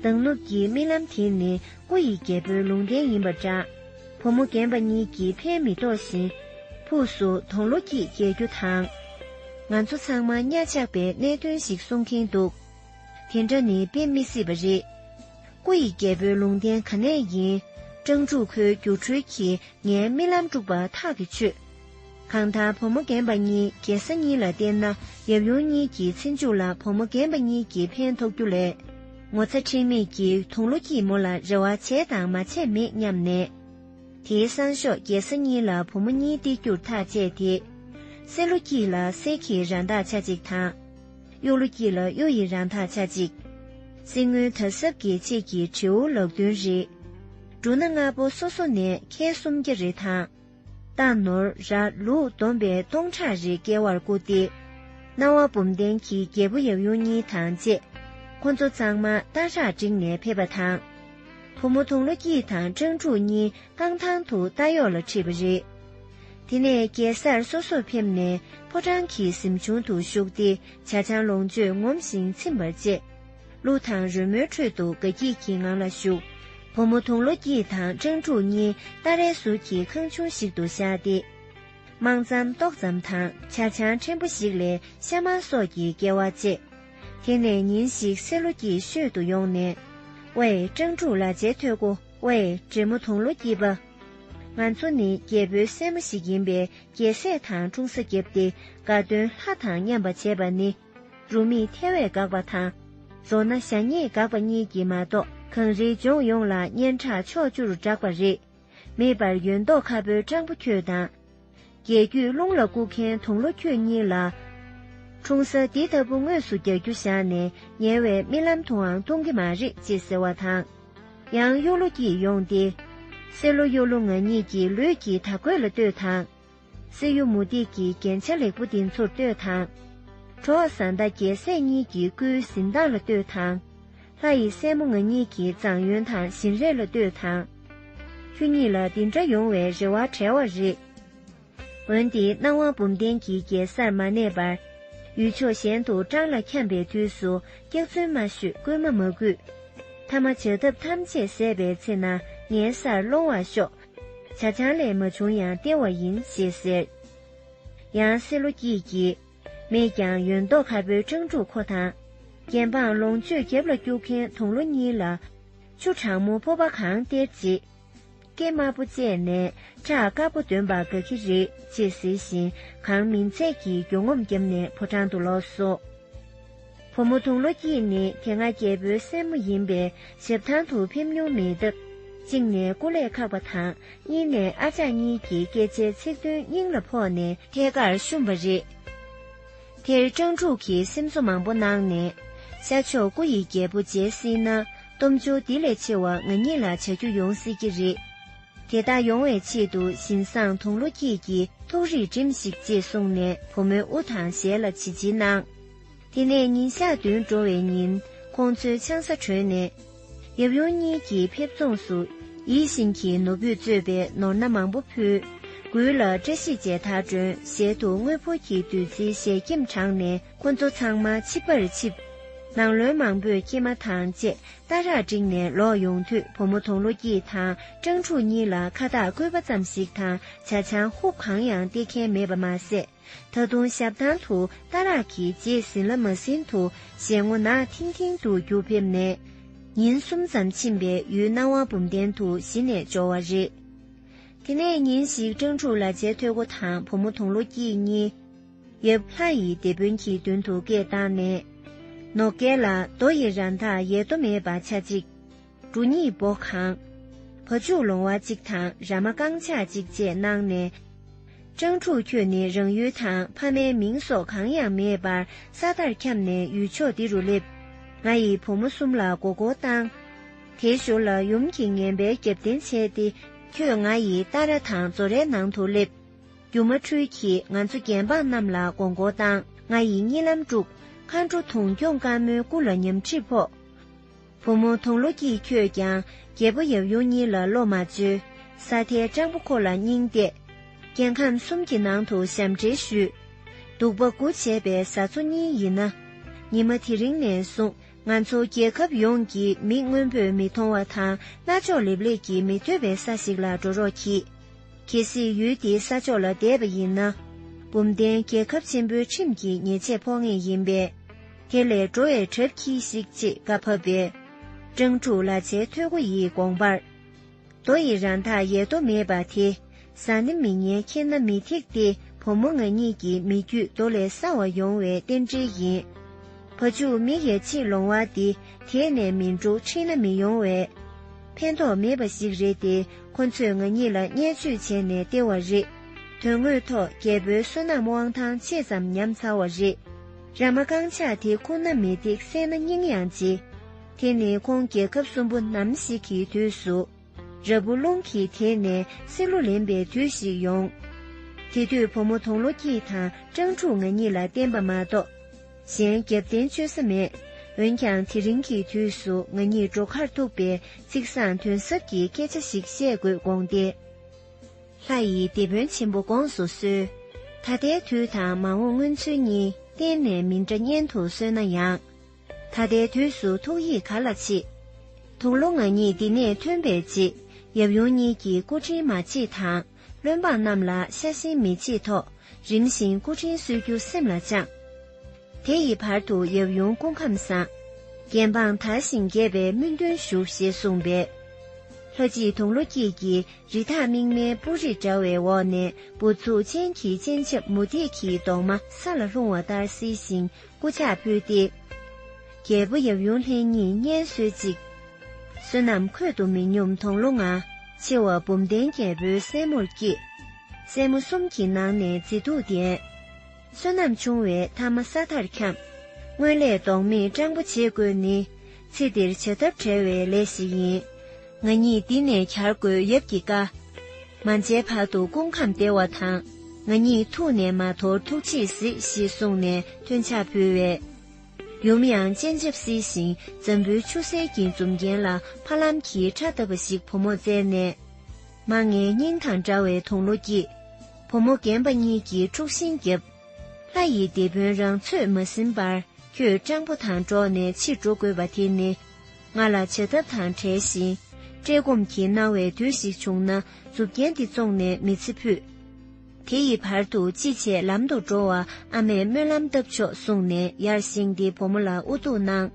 མདང་ནུབ་ཀྱི་རྨི་ལམ་དེ་ནི་སྐུ་ཡི་རྒྱལ་པོའི་ལུང་བསྟན་ཡིན་པ་འདྲ། བུ་མོ་རྒན་པ་གཉིས་ཀྱིས་ཕན་མི་ཐོགས་བཞིན། ཕུགས་སུ་དོང་ལོ་སྐྱིད་རྒྱལ་རྒྱུ་དང། ང་ཚོ་ཚང་མ་གཉའ་ཆག་པའི་གནད་དོན་ཞིག་གསུང་གིན་འདུག་དེ་འདྲ་ནི་དཔེ་མི་སྲིད་པ་རེད། སྐུ་ཡི་རྒྱལ་པོའི་ལུང་བསྟན་ག་ནས་ཡིན། སྤྲང་ཕྲུག་ཁོའི་སྒྱུ་འཕྲུལ་གྱིས་ངའི་རྨི་ལམ་དཀྲུགས་པ་ཐག་གིས་ཆོད། གང་ལྟར་བུ་མོ་རྒན་པ་གཉིས་རྒྱལ་ས་གཉིས་ལ་བསྟེན་ན་ཡབ་ཡུམ་གཉིས་ཀྱི་ཚེ་མཇུག་ལ་བུ་མོ་རྒན་པ་གཉིས་ཀྱིས་ཕན་ཐོགས་རྒྱུ་ལས། ངོ་ཚ་ཁྲེལ་མེད་ཀྱིས་དུང་ལོ་སྐྱིད་མོ་ལ་རེ་བ་བྱས་དང་མ་བྱས་མེད་སྙམ་ནས། དེའི་སང་ཞོགས་རྒྱལ་ས་གཉིས་ལ་བུ་མོ་གཉིས་སྟེར་རྒྱུར་ཐག་བཅད་དེ། སྲས་ལོ་སྐྱིད་ལ་སྲས་ཀྱི་ར་མདག་ཆ་གཅིག་དང། གཡོ་ལོ་སྐྱིད་ལ་གཡོ་ཡི་རང་ཐག་ཆ་གཅིག། སྲིན་སྔོན་དར་ཟབ་དགེ་བྱེད་ཀྱི་དྲེའུ་ལག་བདུན་རེ། འབྲུ་སྣ་ལྔ་པོ་སོ་སོ་ནས་ཁལ་སུམ་བརྒྱ་རེ་དང། སྟག་ནོར་ར་ལུག་བསྡོམས་པས་སྟོང་ཕྲག་རེ་བསྐལ་བར་བཀུག་སྟེ། སྣང་བ་འབུམ་ལྡན་གྱི་རྒྱལ་པོ་ཡབ་ཡུམ་གཉིས་དང་བཅས། ཁོ་ཚོ་གཙང་མ་སྟག་བྲག་སྒྲིག་ནས་ཕེབས་པ་དང། བུ་མོ་དུང་ལོ་སྐྱིད་དང་སྤྲང་ཕྲུག་གཉིས་རྐང་ཐང་དུ་སྟག་གཡོག་ལ་ཁྲིད་པ་རེད། དེ་ནས་གེ་སར་སོ་སོར་ཕེབས་ནས་ཕོ་བྲང་གི་གཟིམ་ཆུང་དུ་བཞུགས་ཏེ་བྱ་བྱང་ལོངས་སྤྱོད་ངོམས་ཤིང་ཚིམ་པར་བཅས། གླུ་དང་རོལ་མོའི་ཁྲོད་དུ་དགའ་སྐྱིད་ཀྱི་ངང་ལ་བཞུགས། བུ་མོ་དུང་ལོ་སྐྱིད་དང་སྤྲང་ཕྲུག་གཉིས་ཏཱ་རའི་ཟུར་གྱི་ཁང་ཆུང་ཞིག་ཏུ་བཞག་སྟེ། དམངས་འཚམས་ཏོག་ཙམ་དང་བྱ་བྱང་ཕྲན་བུ་ཞིག་ལས་ཤ་མང་སོགས་ཀྱི་སྐལ་བ་བཅས། དེ་ནས་ཉིན་ཞིག་སེ་ལོ་སྐྱིད་ཤོད་དུ་ཡོང་ནས། ཝེ། སྤྲང་ཕྲུག་ལ་ཇའི་ཐོད་སྐུ། ཝེ། བགྲེས་མོ་དུང་ལོ་སྐྱིད་པ། ང་ཚོ་ནི་རྒྱལ་པོའི་སྲས་མོ་ཞིག་ཡིན་པས་རྒྱལ་སྲས་དང་འཁྲུངས་ས་བརྒྱབ་སྟེ་དགའ་སྟོན་ལྷ་དང་མཉམ་པ་བྱས་པ་ནི། རུ་མིས་ཐལ་བས་དགག་པ་དང། མཛོ་ན་ཞྭ་སྙེད་དགག་པ་གཉིས་ཀྱིས་མ་གཏོགས་གངས་རིའི་ལྗོངས་ཡོངས་ལ་སྙན་གྲགས་ཕྱོགས་བཅུར་བསྒྲགས་པ་རེད། མེད་པར་ཡོད་མདོག་ཁ་པོའི་སྤྲང་པོ་ཁྱོད་དང། རྒྱལ་རྒྱུད་རླུང་ལ་བཀུག་མཁན་དུང་ལོ་ཁྱོད་གཉིས་ལ། འཁྲུངས་ས་འདི་ལྟ་བུ་དངོས་སུ་རྒྱག་རྒྱུ་བཞག་ནས་ཉལ་བའི་རྨི་ལམ་དུའང་ལྟུང་གི་མ་རེད་ཅེས་ཟེར་བ་དང། ཡང་གཡུ་ལོ་སྐྱིད་ཡོང་སྟེ། བསེ་ལོ་གཡུ་ལོ་ང་གཉིས་ཀྱིས་ལུས་ཀྱི་དར་གོས་ལ་ལྟོས་དང། བསེ་གཡུ་མུ་ཏིག་གི་རྒྱན་ཆ་ལེགས་པོ་འདི་ཚོར་ལྟོས་དང། གྲོགས་བཟའ་ཟླ་རྒྱལ་སྲས་གཉིས་ཀྱི་སྐུའི་གཟི་མདངས་ལ་ལྟོས་དང། ལྷ་ཡི་སྲས་མོ་ང་གཉིས་ཀྱིས་ཙང་ཡོན་དང་བཞིན་རས་ལ་ལྟོས་དང། ཁྱོད་གཉིས་ལ་འདི་འདྲ་ཡོང་བའི་རེ་བ་བྲལ་བ་རེད། འོན་ཏེ་སྣང་བ་འབུམ་ལྡན་གྱི་རྒྱལ་སར་མ་གནས་པར། ཡུལ་ཕྱོགས་གཞན་དུ་སྤྲང་ལ་འཁྱམས་པའི་དུས་སུ་སྐྱག་རྫུན་མ་ཤོད་རྐུན་མ་མ་གུས། ཐ་མ་བྱ་ཐབས་ཐམས་ཅད་ཟད་པའི་ཚེ་ན་ངའི་སར་སློང་བར་ཤོག། བྱ་ཆང་ལས་མ་བྱུང་ཡང་སྟེར་བ་ཡིན་ཞེས་ཟེར། ཡང་སེ་ལོ་སྐྱིད་ཀྱིས། མེད་ཀྱང་ཡོད་མདོག་ཁ་པོའི་སྤྲང་ཕྲུག་ཁོ་དང། རྒྱན་འཕངས་ལོངས་སྤྱོད་རྒྱབ་ལ་སྐྱུག་མཁན་དུང་ལོ་གཉིས་ལ། ཆུ་གྲང་མོ་ཕོར་པ་གང་སྟེར་རྗེས། སྐད་དམར་པོ་བཅད་ནས་ཁྲག་དཀར་པོ་འདོན་པར་དགའ་གི་རེད་ཅེས་ཟེར་བཞིན་གང་མིན་ཚད་ཀྱིས་མགྱོགས་ངོམ་བརྒྱབ་ནས་ཕོ་བྲང་དུ་ལོག་སོང། བུ་མོ་དུང་ལོ་སྐྱིད་ནི་དེ་སྔ་རྒྱལ་པོའི་སྲས་མོ་ཡིན་པས་ཞབས་ཐང་དུ་ཕེབས་མྱོང་མེད་སྟབས། གཅིག་ནས་སྐུ་ལས་ཁག་པ་དང་གཉིས་ནས་ཨ་ཅག་གཉིས་ཀྱི་སྐད་ཆའི་ཚིག་དོན་སྙིང་ལ་ཕོག་ནས། ཐད་ཀར་བཤུམས་པ་རེད། དེར་སྤྲང་ཕྲུག་གིས་སེམས་གསོ་མང་པོ་གནང་ནས། ཤར་ཕྱོགས་སྐུ་ཡི་རྒྱལ་པོ་མཇལ་སྲིད་ན་སྟོབས་འབྱོར་འདི་ལས་ཆེ་བ་ང་ཉིད་ལ་བྱ་རྒྱུ་ཡོང་སྲིད་ཀྱི་རེད། དེ་ལྟ་ཡོང་བའི་ཆེད་དུ་བཞིན་བཟང་དུང་ལོ་སྐྱིད་ཀྱིས་ཐུགས་རིག་བསྒྲིམས་ཤིག་ཅེས་གསུངས་ནས་བུ་མོའི་དབུ་དང་ཞལ་ལ་བྱིལ་བྱིལ་གནང། དེ་ནས་ཉིན་ཞག་བདུན་འགྲོ་བའི་ཉིན་ཁོང་ཚོའི་ཆང་ས་དྲོས་ནས། ཡབ་ཡུམ་གཉིས་ཀྱིས་ཕེབས་རྫོངས་སུ་ཡིད་བཞིན་གྱི་ནོར་བུས་གཙོས་པའི་ནོར་སྣ་མང་པོ་ཕུལ། མགུལ་ལ་བཀྲ་ཤིས་བྱད་ཐག་སྒྲོན་ཞལ་དུ་དངོས་ཕོར་གྱི་བདུད་རྩིའི་ཞལ་སྐྱེམས་དྲངས་ནས་ཁོ་ཚོ་ཚང་མ་ཆིབས་པར་ཆིབས། ནང་བློན་མང་པོས་སྐྱེལ་མ་དང་བཅས་སྟ་རག་སྒྲིག་ནས་ལོག་ཡོང་དུས་བུ་མོ་དོང་ལོ་སྐྱིད་དང་སྤྲང་ཕྲུག་གཉིས་ལ་ཁ་བཏགས་བསྐོས་པ་ཙམ་ཞིག་དང་བྱ་ཆང་ཧུབ་གང་ཡང་སྟེར་མཁན་མེད་པ་མ་ཟད། ད་དུང་ཞབས་ཐང་དུ་རྟ་རག་གི་རྗེས་ཟིན་ལ་མ་ཟིན་དུ་ཞལ་ངོ་ནག་ཐིང་ཐིང་དུ་རྒྱུག་ཕེབས་ནས། ཉིན་གསུམ་ཙམ་ཕྱིན་པས་ཡུལ་སྣང་བ་འབུམ་ལྡན་དུ་གཞི་ནས་འབྱོར་བ་རེད། དེ་ནས་ཉིན་ཞིག་སྤྲང་ཕྲུག་ལ་ཇའི་ཐོད་སྒོ་དང་བུ་མོ་དུང་ལོ་སྐྱིད་གཉིས། ཡབ་ལྷ་ཡི་སྡེ་དཔོན་གྱི་མདུན་དུ་སྐད་བཏང་ནས། ནོ་སྐལ་ལ་རྡོ་ཡི་ར་མཐའ་ཡལ་དུ་མེད་པ་ཆ་གཅིག། འབྲུ་གཉིས་སྦོ་གང། བ་ཕྱུགས་ལོང་བ་གཅིག་དང་ར་མ་རྐང་ཆག་གཅིག་བཅས་གནང་ནས། སྤྲང་ཕྲུག་ཁྱོད་ནི་རང་ཡུལ་དང་ཕ་མའི་མིང་སོགས་གང་ཡང་མེད་པར་ས་མཐར་འཁྱམས་ནས་ཡུལ་ཕྱོགས་འདི་རུ་སླེབས། ང་ཡི་བུ་མོ་གསུམ་ལ་མགོ་སྐོར་བཏང། དེའི་ཞོར་ལ་ཡུམ་གྱིས་ངན་པའི་རྒྱབ་རྟེན་བྱས་ཏེ། ཁྱོད་ང་ཡི་རྟ་ར་དང་མཛོ་རའི་ནང་དུ་སླེབས། རྒྱུ་མ་འཁྲུལ་གྱིས་ང་ཚོ་རྒྱལ་འབངས་རྣམས་ལ་མགོ་སྐོར་བཏང། ང་ཡི་གཉིད་ལམ་དཀྲུགས། མཁའ་འགྲོ་དུང་སྐྱོང་དཀར་མོའི་སྐུ་ལ་ཉམས་ཁྲིད་ཕོག། བུ་མོ་དོང་ལོ་སྐྱིད་ཁྱོད་ཀྱང་རྒྱལ་པོ་ཡབ་ཡུམ་གཉིས་ལ་བློ་མ་བཅོལ། ས་མཐའི་སྤྲང་པོ་ཁོ་ལ་སྙིང་གཏད། རྒྱལ་ཁམས་གསུམ་གྱི་ནང་དུ་ཞབས་འདྲེན་ཞུས། གདུག་པ་དགུ་བྱས་པའི་བཟའ་ཚོ་གཉིས་ཡིན་ན། ཉི་མ་དེ་རིང་ནས་བཟུང་ང་ཚོ་རྒྱལ་ཁབ་ཡོངས་ཀྱི་མིག་སྔོན་པོས་མི་མཐོང་བ་དང་རྣ་ཅོག་ལེབ་ལེབ་ཀྱིས་མི་ཐོས་པའི་ས་ཞིག་ལ་འགྲོ་རོགས་གྱིས། གལ་སྲིད་ཡུལ་འདིའི་ས་ཕྱོགས་ལ་བསྡད་པ་ཡིན་ན། འབུམ་ལྡན་རྒྱལ་ཁབ་ཆེན་པོའི་ཁྲིམས་ཀྱིས་ཉེས་ཆད་ཕོག་ངེས་ཡིན་པས། དེ་ལས་འགྲོ་བའི་གྲབས་གྱིས་ཤིག་ཅེས་བཀའ་ཕབ་པས། སྤྲང་ཕྲུག་ལ་བྱའི་ཐོད་སྒོ་ཡིས་དགོངས་པར། རྡོ་ཡི་ར་མཐའ་ཡལ་དོ་མེད་པ་དེ། ཟ་ནི་མི་ཉན་ཁྱེར་ན་མི་ཐེག་སྟེ་བུ་མོ་ང་གཉིས་ཀྱི་མི་རྒྱུད་རྡོ་ལས་སྲ་བ་ཡོང་བའི་རྟེན་འབྲེལ་ཡིན། བ་ཕྱུགས་མི་ཡལ་ཕྱིར་ལོང་བ་འདི་དེད་ནས་མི་འགྲོ་ཁྲིད་ན་མི་ཡོང་བས། ཕན་ཐོགས་མེད་པ་ཞིག་རེད་དེ་ཁོ་ཚོས་ང་གཉིས་ལ་བརྙས་བཅོས་བྱས་ནས་སྟེར་བ་རེད། དོན་དངོས་ཐོག་རྒྱལ་པོའི་བསོད་ནམས་དབང་ཐང་ཆེ་ཙམ་ཉམས་ཚར་བ་རེད། ར་མ་རྐང་ཆག་དེ་ཁོ་ན་མི་འདེགས་བསད་ན་སྙིང་ཡང་རྗེ། དེ་ནི་ཁོང་རྒྱལ་ཁབ་གསུམ་པོ་ནམ་ཞིག་གི་དུས་སུ། ར་བུ་རླུང་གིས་དེད་ནས་སྲིད་ལོ་ལེན་པའི་དུས་ཤིག་ཡོང། དེ་དུས་བུ་མོ་དོང་ལོ་སྐྱིད་དང་སྤྲང་ཕྲུག་ང་གཉིས་ལ་བསྟན་པ་མ་གཏོགས། གཞན་རྒྱབ་རྟེན་བཅོལ་ས་མེད། འོན་ཀྱང་དེ་རིང་གི་དུས་སུ་ང་གཉིས་འགྲོ་ཁར་ཐུག་པས་ཚིག་བཟང་དོན་ཟབ་ཀྱི་སྐད་ཆ་ཞིག་བཤད་དགོས་དགོངས་ཏེ། ལྷ་ཡི་སྡེ་དཔོན་ཆེན་པོ་དགོངས་སུ་གསོལ། ད་ལྟའི་དུས་དང་མ་འོངས་མངོན་ཚུལ་གཉིས་གཏན་ནས་མི་འདྲ་སྙན་དུ་གསོལ་ན་ཡང། ད་ལྟའི་དུས་སུ་ཐུགས་ཡིད་ག་ལ་མཆིས། དུང་ལོ་ང་གཉིས་འདི་ནས་ཐོན་པའི་རྗེས་ཡབ་ཡུམ་གཉིས་ཀྱི་སྐུ་དྲིན་མ་མཆིས་དང་བློན་འབངས་རྣམས་ལ་ཤ་ཞེན་མི་མཆིས་ཐོག་རིམ་བཞིན་སྐུ་དྲིན་གསོལ་རྒྱུ་སེམས་ལ་བཅངས། དེ་ཡི་བར་དུ་ཡབ་ཡུམ་སྐུ་ཁམས་བཟང། རྒྱལ་འབངས་དར་ཞིང་རྒྱས་པའི་སྨོན་འདུན་ཞུ་ཞེས་གསུངས་པས། ལྷ་སྐྱིད་དུང་ལོ་སྐྱིད་ཀྱིས་རི་དྭགས་རྨིག་མའི་སྤུ་རིས་འདྲ་བའི་འོག་ནས་སྦུབས་ཚུགས་ཅན་གྱི་སྤྱན་ཆབ་མུ་ཏིག་གི་མདོག་མ་ས་ལ་ལྷུང་བ་ལྟར་བསིལ་ཞིང་སྐུ་ཕྱག་ཕུལ་ཏེ། རྒྱལ་པོ་ཡབ་ཡུམ་ལྷན་གཉིས་གཉེན་གསོལ་ཅིག། བསོད་ནམས་འཁོད་དུ་མི་སྙོམས་དོང་ལོ་ང། ཆེ་བ་བུམ་ལྡན་རྒྱལ་པོའི་སྲས་མོར་བསྐྱེད། སྲས་མོ་གསུམ་གྱི་ནང་ནས་མཛེས་སྡུག་ལྡན། བསོད་ནམས་ཆུང་བས་ཐ་མ་ས་མཐར་འཁྱམས། སྔོན་ལས་ལྡོག་མེད་སྤྲང་པོ་བྱེད་དགོས་ནི། ཚེ་འདིར་བྱ་ཐབས་བྲལ་བའི་ལས་ཤིག་ཡིན། ང་ཉིད་འདི་ནས་གྱར་དགོས་ཡབ་ཀྱི་བཀའ། མ་མཇལ་བར་དུ་སྐུ་ཁམས་བདེ་བ་དང། ང་ཉིད་ཐུགས་ནས་མ་དོར་ཐུགས་རྗེས་གཟིགས་ཞེས་གསུངས་ནས་ཐོན་ཕྱག་ཕུལ་བས། ཡུམ་ཡང་སྤྱན་ཆབ་བསིལ་ཞིང་འཛམ་བུའི་ཆུ་སེར་གྱི་འཛུམ་རྒྱན་ལ་ཕ་ལམ་གྱིས་ཁྲག་བཏབ་པ་ཞིག་བུ་མོར་བསྩལ་ནས། མ་ངའི་སྙིང་དང་འདྲ་བའི་དུང་ལོ་སྐྱིད། བུ་མོ་རྒན་པ་གཉིས་ཀྱིས་དཀྲུགས་ཤིང་བརྒྱབ། ལྷ་ཡི་སྡེ་དཔོན་རང་ཚོད་མ་ཟིན་པར་ཁྱོད་སྤྲང་པོ་དང་འགྲོགས་ནས་ཕྱིར་འགྲོ་དགོས་པ་དེ་ནི། ང་ལ་བྱ་ཐབས་དང་བྲལ་ཞིང། བཀྲེས་སྐོམ་གྱིས་མནར་བའི་དུས་ཤིག་བྱུང་ན་མཛུབ་རྒྱན་འདི་བཙོངས་ནས་མི་ཚེ་ཕུད། དེ་ཡི་བར་དུ་ཅི་བྱེད་ལམ་དུ་འགྲོ་བར་ཨ་མས་སྨོན་ལམ་བཏབ་ཆོག་གསུངས་ནས་ཡར་བཞེངས་ཏེ་བུ་མོ་ལ་ཨུ་གཏུགས་གནང།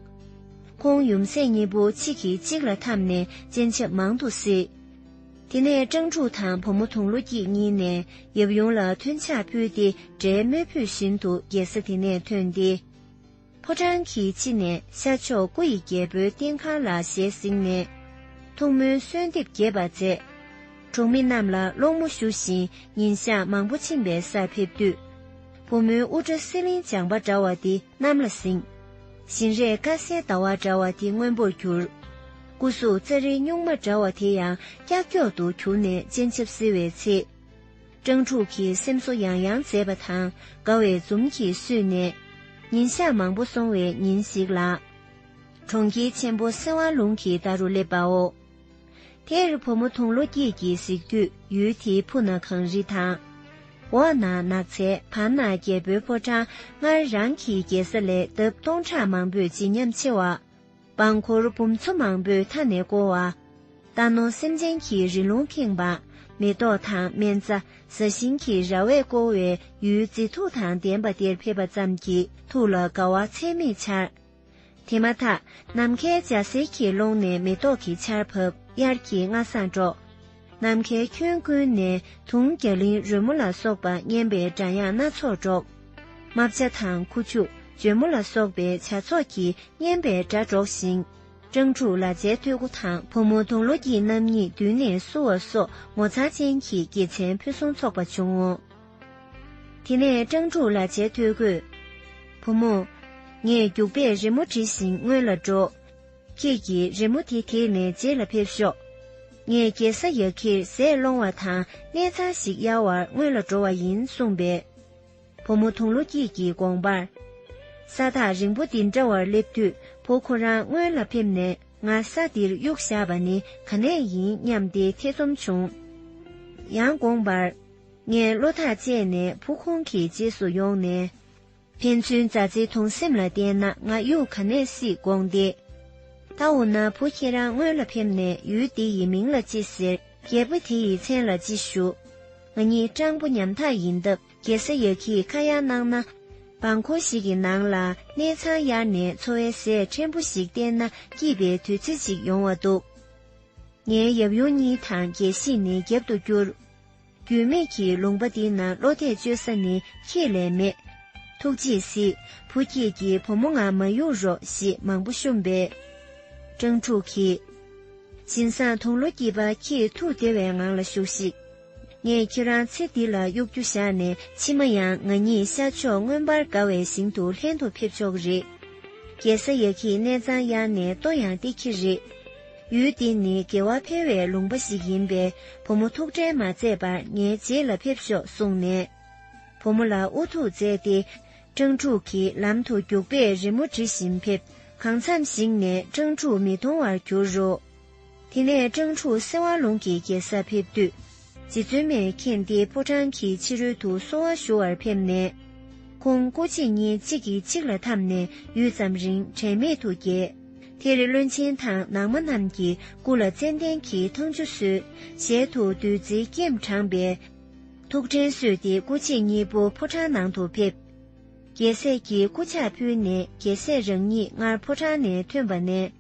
ཁོང་ཡུམ་སྲས་གཉིས་པོ་གཅིག་གིས་གཅིག་ལ་འཐམས་ནས་སྤྱན་ཆབ་མང་དུ་གཟིགས། དེ་ནས་སྤྲང་ཕྲུག་དང་བུ་མོ་དུང་ལོ་སྐྱིད་གཉིས་ནས་ཡབ་ཡུམ་ལ་མཐུན་ཕྱག་ཕུལ་ཏེ་དགྲའི་རྨོད་བུས་བཞིན་དུ་རྒྱལ་ས་དེ་ནས་ཐོན་ཏེ། ཕོ་བྲང་གི་ཕྱི་ནས་ཤར་ཕྱོགས་སྐུ་ཡི་རྒྱལ་པོའི་རྟེན་ཁང་ལ་ཞལ་གཟིགས་ནས། ཐུགས་སྨོན་གསོལ་འདེབས་རྒྱས་པ་མཛད། གྲོང་མི་རྣམས་ལ་སློང་མོ་ཞུ་བཞིན་ཉིན་ཞག་མང་པོ་ཕྱིན་པའི་སར་ཕེབས་དུས། བུ་མོའི་དབུ་སྐྲ་གསེར་གླིང་སྦྱངས་པ་འདྲ་བ་དེ། གནམ་ལ་བསྲིངས། བཞིན་རས་དཀར་གསལ་ཟླ་བ་འདྲ་བ་དེ་སྔོན་པོར་གྱུར། སྐུ་གཟུགས་རྩེ་རེ་སྨྱུག་མ་འདྲ་བ་དེ་ཡང་ཀྱག་ཀྱོག་ཏུ་གྱུར་ནས་སྤྱན་ཆབ་བསིལ་བའི་ཚེ། སྤྲང་ཕྲུག་གི་སེམས་གསོ་ཡང་ཡང་མཛད་པ་དང་དགའ་བའི་འཛུམ་གྱིས་བསུས་ནས། ཉིན་ཞག་མང་པོ་སོང་བའི་ཉིན་ཞིག་ལ། གྲོང་ཁྱེར་ཆེན་པོ་སེ་བ་ལུང་གི་མདའ་རུ་སླེབས་པའོ། དེར་བུ་མོ་དུང་ལོ་སྐྱིད་ཀྱིས་གཟིགས་དུས་ཡུལ་དེའི་ཕུ་ན་གངས་རི་དང། འོག་ན་ནགས་ཚལ་བར་ན་རྒྱལ་པོའི་ཕོ་བྲང་སྔར་རང་གི་རྒྱལ་ས་ལས་ལྡབ་སྟོང་ཕྲག་མང་པོས་བརྗིད་ཉམས་ཆེ་བ། འབངས་འཁོར་འབུམ་ཚོ་མང་པོས་མཐའ་ནས་བསྐོར་བ། རྟ་ནོར་སེམས་ཅན་གྱི་རི་ལུང་ཁེངས་པ། མེ་ཏོག་དང་སྨན་རྩྭ་བཟའ་ཤིང་གི་ར་བས་བསྐོར་བའི་ཡུལ་མཛེས་ཐུགས་དང་ལྡན་པ་དེར་ཕེབས་པ་ཙམ་གྱིས་ཐུགས་ལ་དགའ་བ་ཚད་མེད་འཆར། དེ་མ་ཐག་ནམ་མཁའི་འཇའ་ཟེར་གྱི་ཀློང་ནས་མེ་ཏོག་གི་ཆར་བབས་དབྱར་གྱི་རྔ་གསང་སྒྲོག། ནམ་མཁའི་ཁྱོན་ཀུན་ནས་དུང་རྒྱ་ལིང་རོལ་མོ་ལ་སོགས་པ་སྙན་པའི་སྒྲ་དབྱངས་སྣ་ཚོགས་སྒྲོག། རྨ་བྱ་དང་ཁུ་བྱུག་འཇོལ་མོ་ལ་སོགས་པའི་བྱ་ཚོགས་ཀྱིས་སྙན་པའི་སྒྲ་སྒྲོགས་ཤིང། སྤྲང་ཕྲུག་ལ་ཇའི་ཐོད་སྐུ་དང་བུ་མོ་དུང་ལོ་སྐྱིད་རྣམ་གཉིས་མདུན་ནས་བསུ་བ་སོགས་ངོ་མཚར་ཅན་གྱི་དགེ་མཚན་ཕུན་སུམ་ཚོགས་པ་བྱུང་ངོ། དེ་ནས་སྤྲང་ཕྲུག་ལ་བྱད་ཐོས་གོས། བུ་མོ། ངས་རྒྱུག་པས་རི་མོ་བྲིས་ཤིང་སྔོན་ལ་འགྲོ། ཁྱེད་ཀྱིས་རི་མོ་དེ་དེད་ནས་རྗེས་ལ་ཕེབས་ཤོག། ངས་རྒྱལ་ས་ཡག་གིར་ཟས་སློང་བ་དང་གནས་ཚང་ཞིག་གཡར་བར་སྔོན་ལ་འགྲོ་བ་ཡིན་གསུངས་པས། བུ་མོ་དུང་ལོ་སྐྱིད་ཀྱིས་དགོངས་པར། ས་ཐག་རིང་པོ་འདི་འདྲ་བར་སླེབས་དུས་བུ་ཁོ་རང་སྔོན་ལ་ཕེབས་ནས་ང་ས་འདིར་གཡུག་བཞག་པ་ནི་ག་ནས་ཡིན་སྙམ་སྟེ་ཐེ་ཚོམ་བྱུང། ཡང་དགོངས་པར། ངས་བློ་ཐག་བཅད་ནས་བུ་ཁོང་གི་རྗེས་སུ་ཡོང་ནས། ཕན་ཚུན་མཛའ་བརྩེའི་དུང་སེམས་ལ་བརྟེན་ན་ང་གཡུག་ག་ནས་སྲིད་དགོངས་ཏེ། ད་འོ་ན་བུ་ཁྱེད་རང་སྔོན་ལ་ཕེབས་ནས་ཡུལ་འདི་ཡི་མིང་ལ་ཅི་ཟེར་རྒད་པོ་དེ་ཡི་མཚན་ལ་ཅི་ཞུ། ང་གཉིས་སྤྲང་པོ་ཉམ་ཐག་ཡིན་སྟབས་རྒྱལ་ས་ཡག་གིས་ཁ་ཡ་གནང་ན། འབངས་འཁོར་ཞིག་གི་ནང་ལ་གནས་ཚང་གཡར་ནས་འཚོ་བའི་ཟས་ཕྲན་བུ་ཞིག་བསྟེན་ན་སྐྱིད་པའི་དུས་ཚོད་ཅིག་ཡོང་བ་འདུག་ངའི་ཡབ་ཡུམ་གཉིས་དང་རྒྱལ་སྲིད་ནི་རྒྱབ་ཏུ་བསྐྱུར། འགྱོད་མེད་ཀྱི་ལུང་པ་འདི་ན་བློ་གཏད་བཅོལ་ས་ནི་ཁྱེད་ལས་མེད། ཐུགས་རྗེས་སི། བུ་ཁྱེད་ཀྱིས་བུ་མོ་ང་མ་གཡུག་རོགས་ཞེས་མང་པོ་བཤུམས་པས། སྤྲང་ཕྲུག་གིས། བྱིན་བཟང་དུང་ལོ་སྐྱིད་པ་ཁྱེད་ཐུགས་བདེ་བའི་ངང་ལ་བཞུགས་ཤིག། ངས་ཁྱེད་རང་ཚེ་འདི་ལ་གཡོག་རྒྱུ་བཞག་ནས་ཕྱི་མ་ཡང་ང་ཉིད་ཤར་ཕྱོགས་མངོན་པར་དགའ་བའི་ཞིང་དུ་ལྷན་དུ་ཕེབས་ཆོག་གི་རེད། རྒྱལ་ས་ཡ་ཁྱི་གནས་ཚང་ཡག་ནས་ལྟོ་ཡང་སྟེར་གྱི་རེད། ཡུལ་འདི་ནི་དགེ་བ་འཕེལ་བའི་ལུང་པ་ཞིག་ཡིན་པས་བུ་མོ་ཐུགས་ཁྲལ་མ་མཛད་པར་ངའི་རྗེས་ལ་ཕེབས་ཤོག་གསུངས་ནས། བུ་མོ་ལ་ཨུ་ཐུག་མཛད་དེ། སྤྲང་ཕྲུག་གིས་ལམ་དུ་རྒྱུག་པས་རི་མོ་འབྲི་བཞིན་ཕེབས། གང་མཚམས་ཤིག་ནས་སྤྲང་ཕྲུག་མི་མཐོང་བར་གྱུར་རོ། དེ་ནས་སྤྲང་ཕྲུག་སེ་བ་ལུང་གི་རྒྱལ་སར་ཕེབས་དུས། རྗེ་བཙུན་མའི་མཁྱེན་བརྩེའི་ཕོ་བྲང་གི་ཕྱི་རོལ་དུ་གསོལ་བ་ཞུ་བར་ཕེབས་ནས། ཁོང་སྐུ་གཅིག་ཉིན་གཅིག་གིས་གཅིག་ལ་འཐམས་ནས་ཡུད་ཙམ་རིང་དྲན་མེད་དུ་གྱེས། དེར་བློན་ཆེན་དང་ནང་མ་རྣམས་ཀྱིས་སྐུ་ལ་ཙནྡན་གྱི་ཐང་ཆུ་གསོལ། ཞལ་དུ་བདུད་རྩིའི་སྐྱེམས་དྲངས་པས། ཐུགས་དྲན་གསོས་ཏེ་སྐུ་གཅིག་གཉིས་པོ་ཕོ་བྲང་ནང་དུ་ཕེབས། རྒྱལ་སྲས་ཀྱིས་སྐུ་ཕྱག་ཕུལ་ནས་རྒྱལ་སྲས་རང་ཉིད་སྔར་ཕོ་བྲང་ནས་ཐོན་པ་ནས།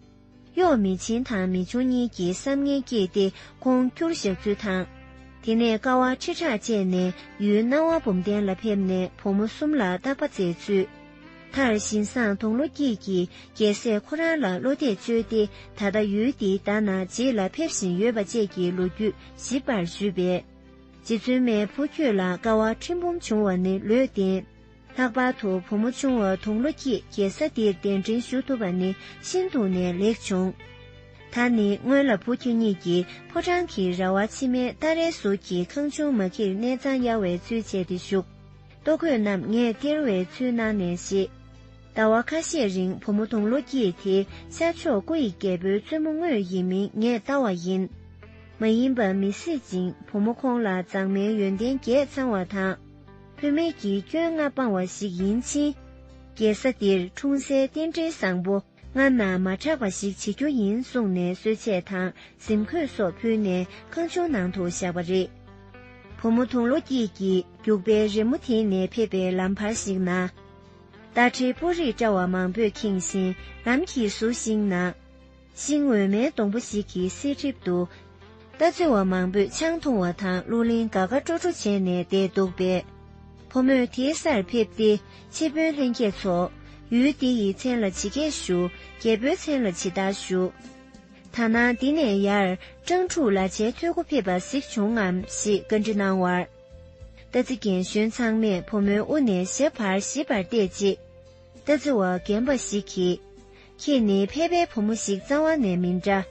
གཡོག་མི་ཆེན་དང་མི་ཆུང་གཉིས་ཀྱིས་བསམ་ངན་སྐྱེས་ཏེ་ཁོང་སྐྱུར་བཞག་ཚུལ་དང། དེ་ནས་ཀ་བ་ཁྲི་ཕྲག་བཅད་ནས་ཡུལ་སྣང་བ་བུམ་གདན་ལ་ཕེབས་ནས་བུ་མོ་གསུམ་ལ་རྟག་པ་མཛད་ཚུལ། མཐར་བཞིན་བཟང་དུང་ལོ་སྐྱིད་ཀྱིས་རྒྱལ་སྲས་ཁོ་རང་ལ་བློ་གཏད་བཅོལ་ཏེ་ད་ལྟ་ཡུལ་འདིའི་ཟླ་ན་རྗེས་ལ་ཕེབས་བཞིན་ཡོད་པ་བཅས་ཀྱི་ལོ་རྒྱུས་ཞིབ་པར་ཞུས་པས། རྗེ་བཙུན་མའི་བུ་ཁྱོད་ལ་ཀ་བ་ཁྲི་འབུམ་བྱུང་བ་ནི་ལོས་བདེན། ལྷག་པར་དུ་བུ་མོ་ཆུང་བ་དུང་ལོ་སྐྱིད་རྒྱལ་ས་འདིར་གདན་འདྲེན་ཞུ་ཐུབ་པ་ནི་ཤིན་ཏུ་ནས་ལེགས་བྱུང། ད་ནི་སྔོན་ལ་བུ་ཁྱོད་གཉིས་ཀྱིས་ཕོ་བྲང་གི་ར་བ་ཕྱི་མའི་སྟ་རའི་ཟུར་གྱི་ཁང་ཆུང་མ་ཁྱིར་གནས་གཙང་གཡར་བའི་ཚུལ་བྱས་ཏེ་བཞུགས། ལྟོ་གོས་རྣམས་ངས་སྟེར་བའི་ཚུལ་གནང་ནས་བཞེས། ཟླ་བ་ཁ་ཤས་རིང་བུ་མོ་དུང་ལོ་སྐྱིད་དེ་ཤར་ཕྱོགས་སྐུ་ཡི་རྒྱལ་པོའི་བཙུན་མོ་དངོས་ཡིན་མིན་ངས་བལྟ་བ་ཡིན། མ་ཡིན་པ་མི་སྲིད་ཅིང་བུ་མོ་ཁོང་ལ་མཛངས་མའི་ཡོན་ཏན་རྒྱས་ཚང་བ་དང། བུད་མེད་ཀྱི་སྐྱོན་ལྔ་སྤང་བ་ཞིག་ཡིན་ཕྱིན། རྒྱལ་ས་འདིར་འཁྲུངས་སའི་རྟེན་འབྲེལ་བཟང་པོ་སྔ་ན་མ་གྲགས་པ་ཞིག་བྱེད་རྒྱུ་ཡིན་གསུངས་ནས་གསོལ་ཆས་དང་གཟིམ་ཁོས་སོགས་ཕུལ་ནས་ཁང་ཆུང་ནང་དུ་བཞག་པ་རེད། བུ་མོ་དུང་ལོ་སྐྱིད་ཀྱིས་རྒྱུག་པའི་རི་མོ་དེད་ནས་ཕེབས་པའི་ལམ་བར་ཞིག་ན། རྟ་དྲེལ་སྤུ་རིས་བཀྲ་བ་མང་པོས་ཁེངས་བཞིན་ལམ་གྱི་ཟུར་ཞིག་ན། ཤིང་འོད་མའི་སྡོང་པོ་ཞིག་གི་གསེར་ཁྲིབ་འདུག། རྟ་རྩེ་བ་མང་པོས་ཆང་འཐུང་བ་དང་གླུ་ལེན་དགའ་དགའ་སྤྲོ་སྤྲོ་བྱས་ནས་བསྡད་འདུག་པས། ཕོ་མོས་དེའི་སར་ཕེབས་ཏེ་ཆེ་དཔོན་ལྷན་རྒྱས་ཚོ། ཡུལ་འདི་ཡི་མཚན་ལ་ཇི་སྐད་ཞུ། རྒྱལ་པོའི་མཚན་ལ་ཇི་ལྟར་ཞུ། ད་ནངས་འདི་ནས་ཡར་སྤྲང་ཕྲུག་ལ་བྱའི་ཐོད་སྐུ་ཕེབས་པ་གཟིགས་བྱུང་ངམ་ཞེས་བཀའ་འདྲི་གནང་བར། རྟ་རྩེ་རྒན་གཞོན་ཚང་མས་ཕོ་མོའི་དབུ་ནས་ཞབས་བར་ཞིབ་པར་བལྟས་རྗེས། རྟ་རྩེ་བ་རྒན་པ་ཞིག་གིས། ཁྱེད་ནི་ཕལ་པའི་བུ་མོ་ཞིག་གཙང་བ་ནས་མི་འདྲ།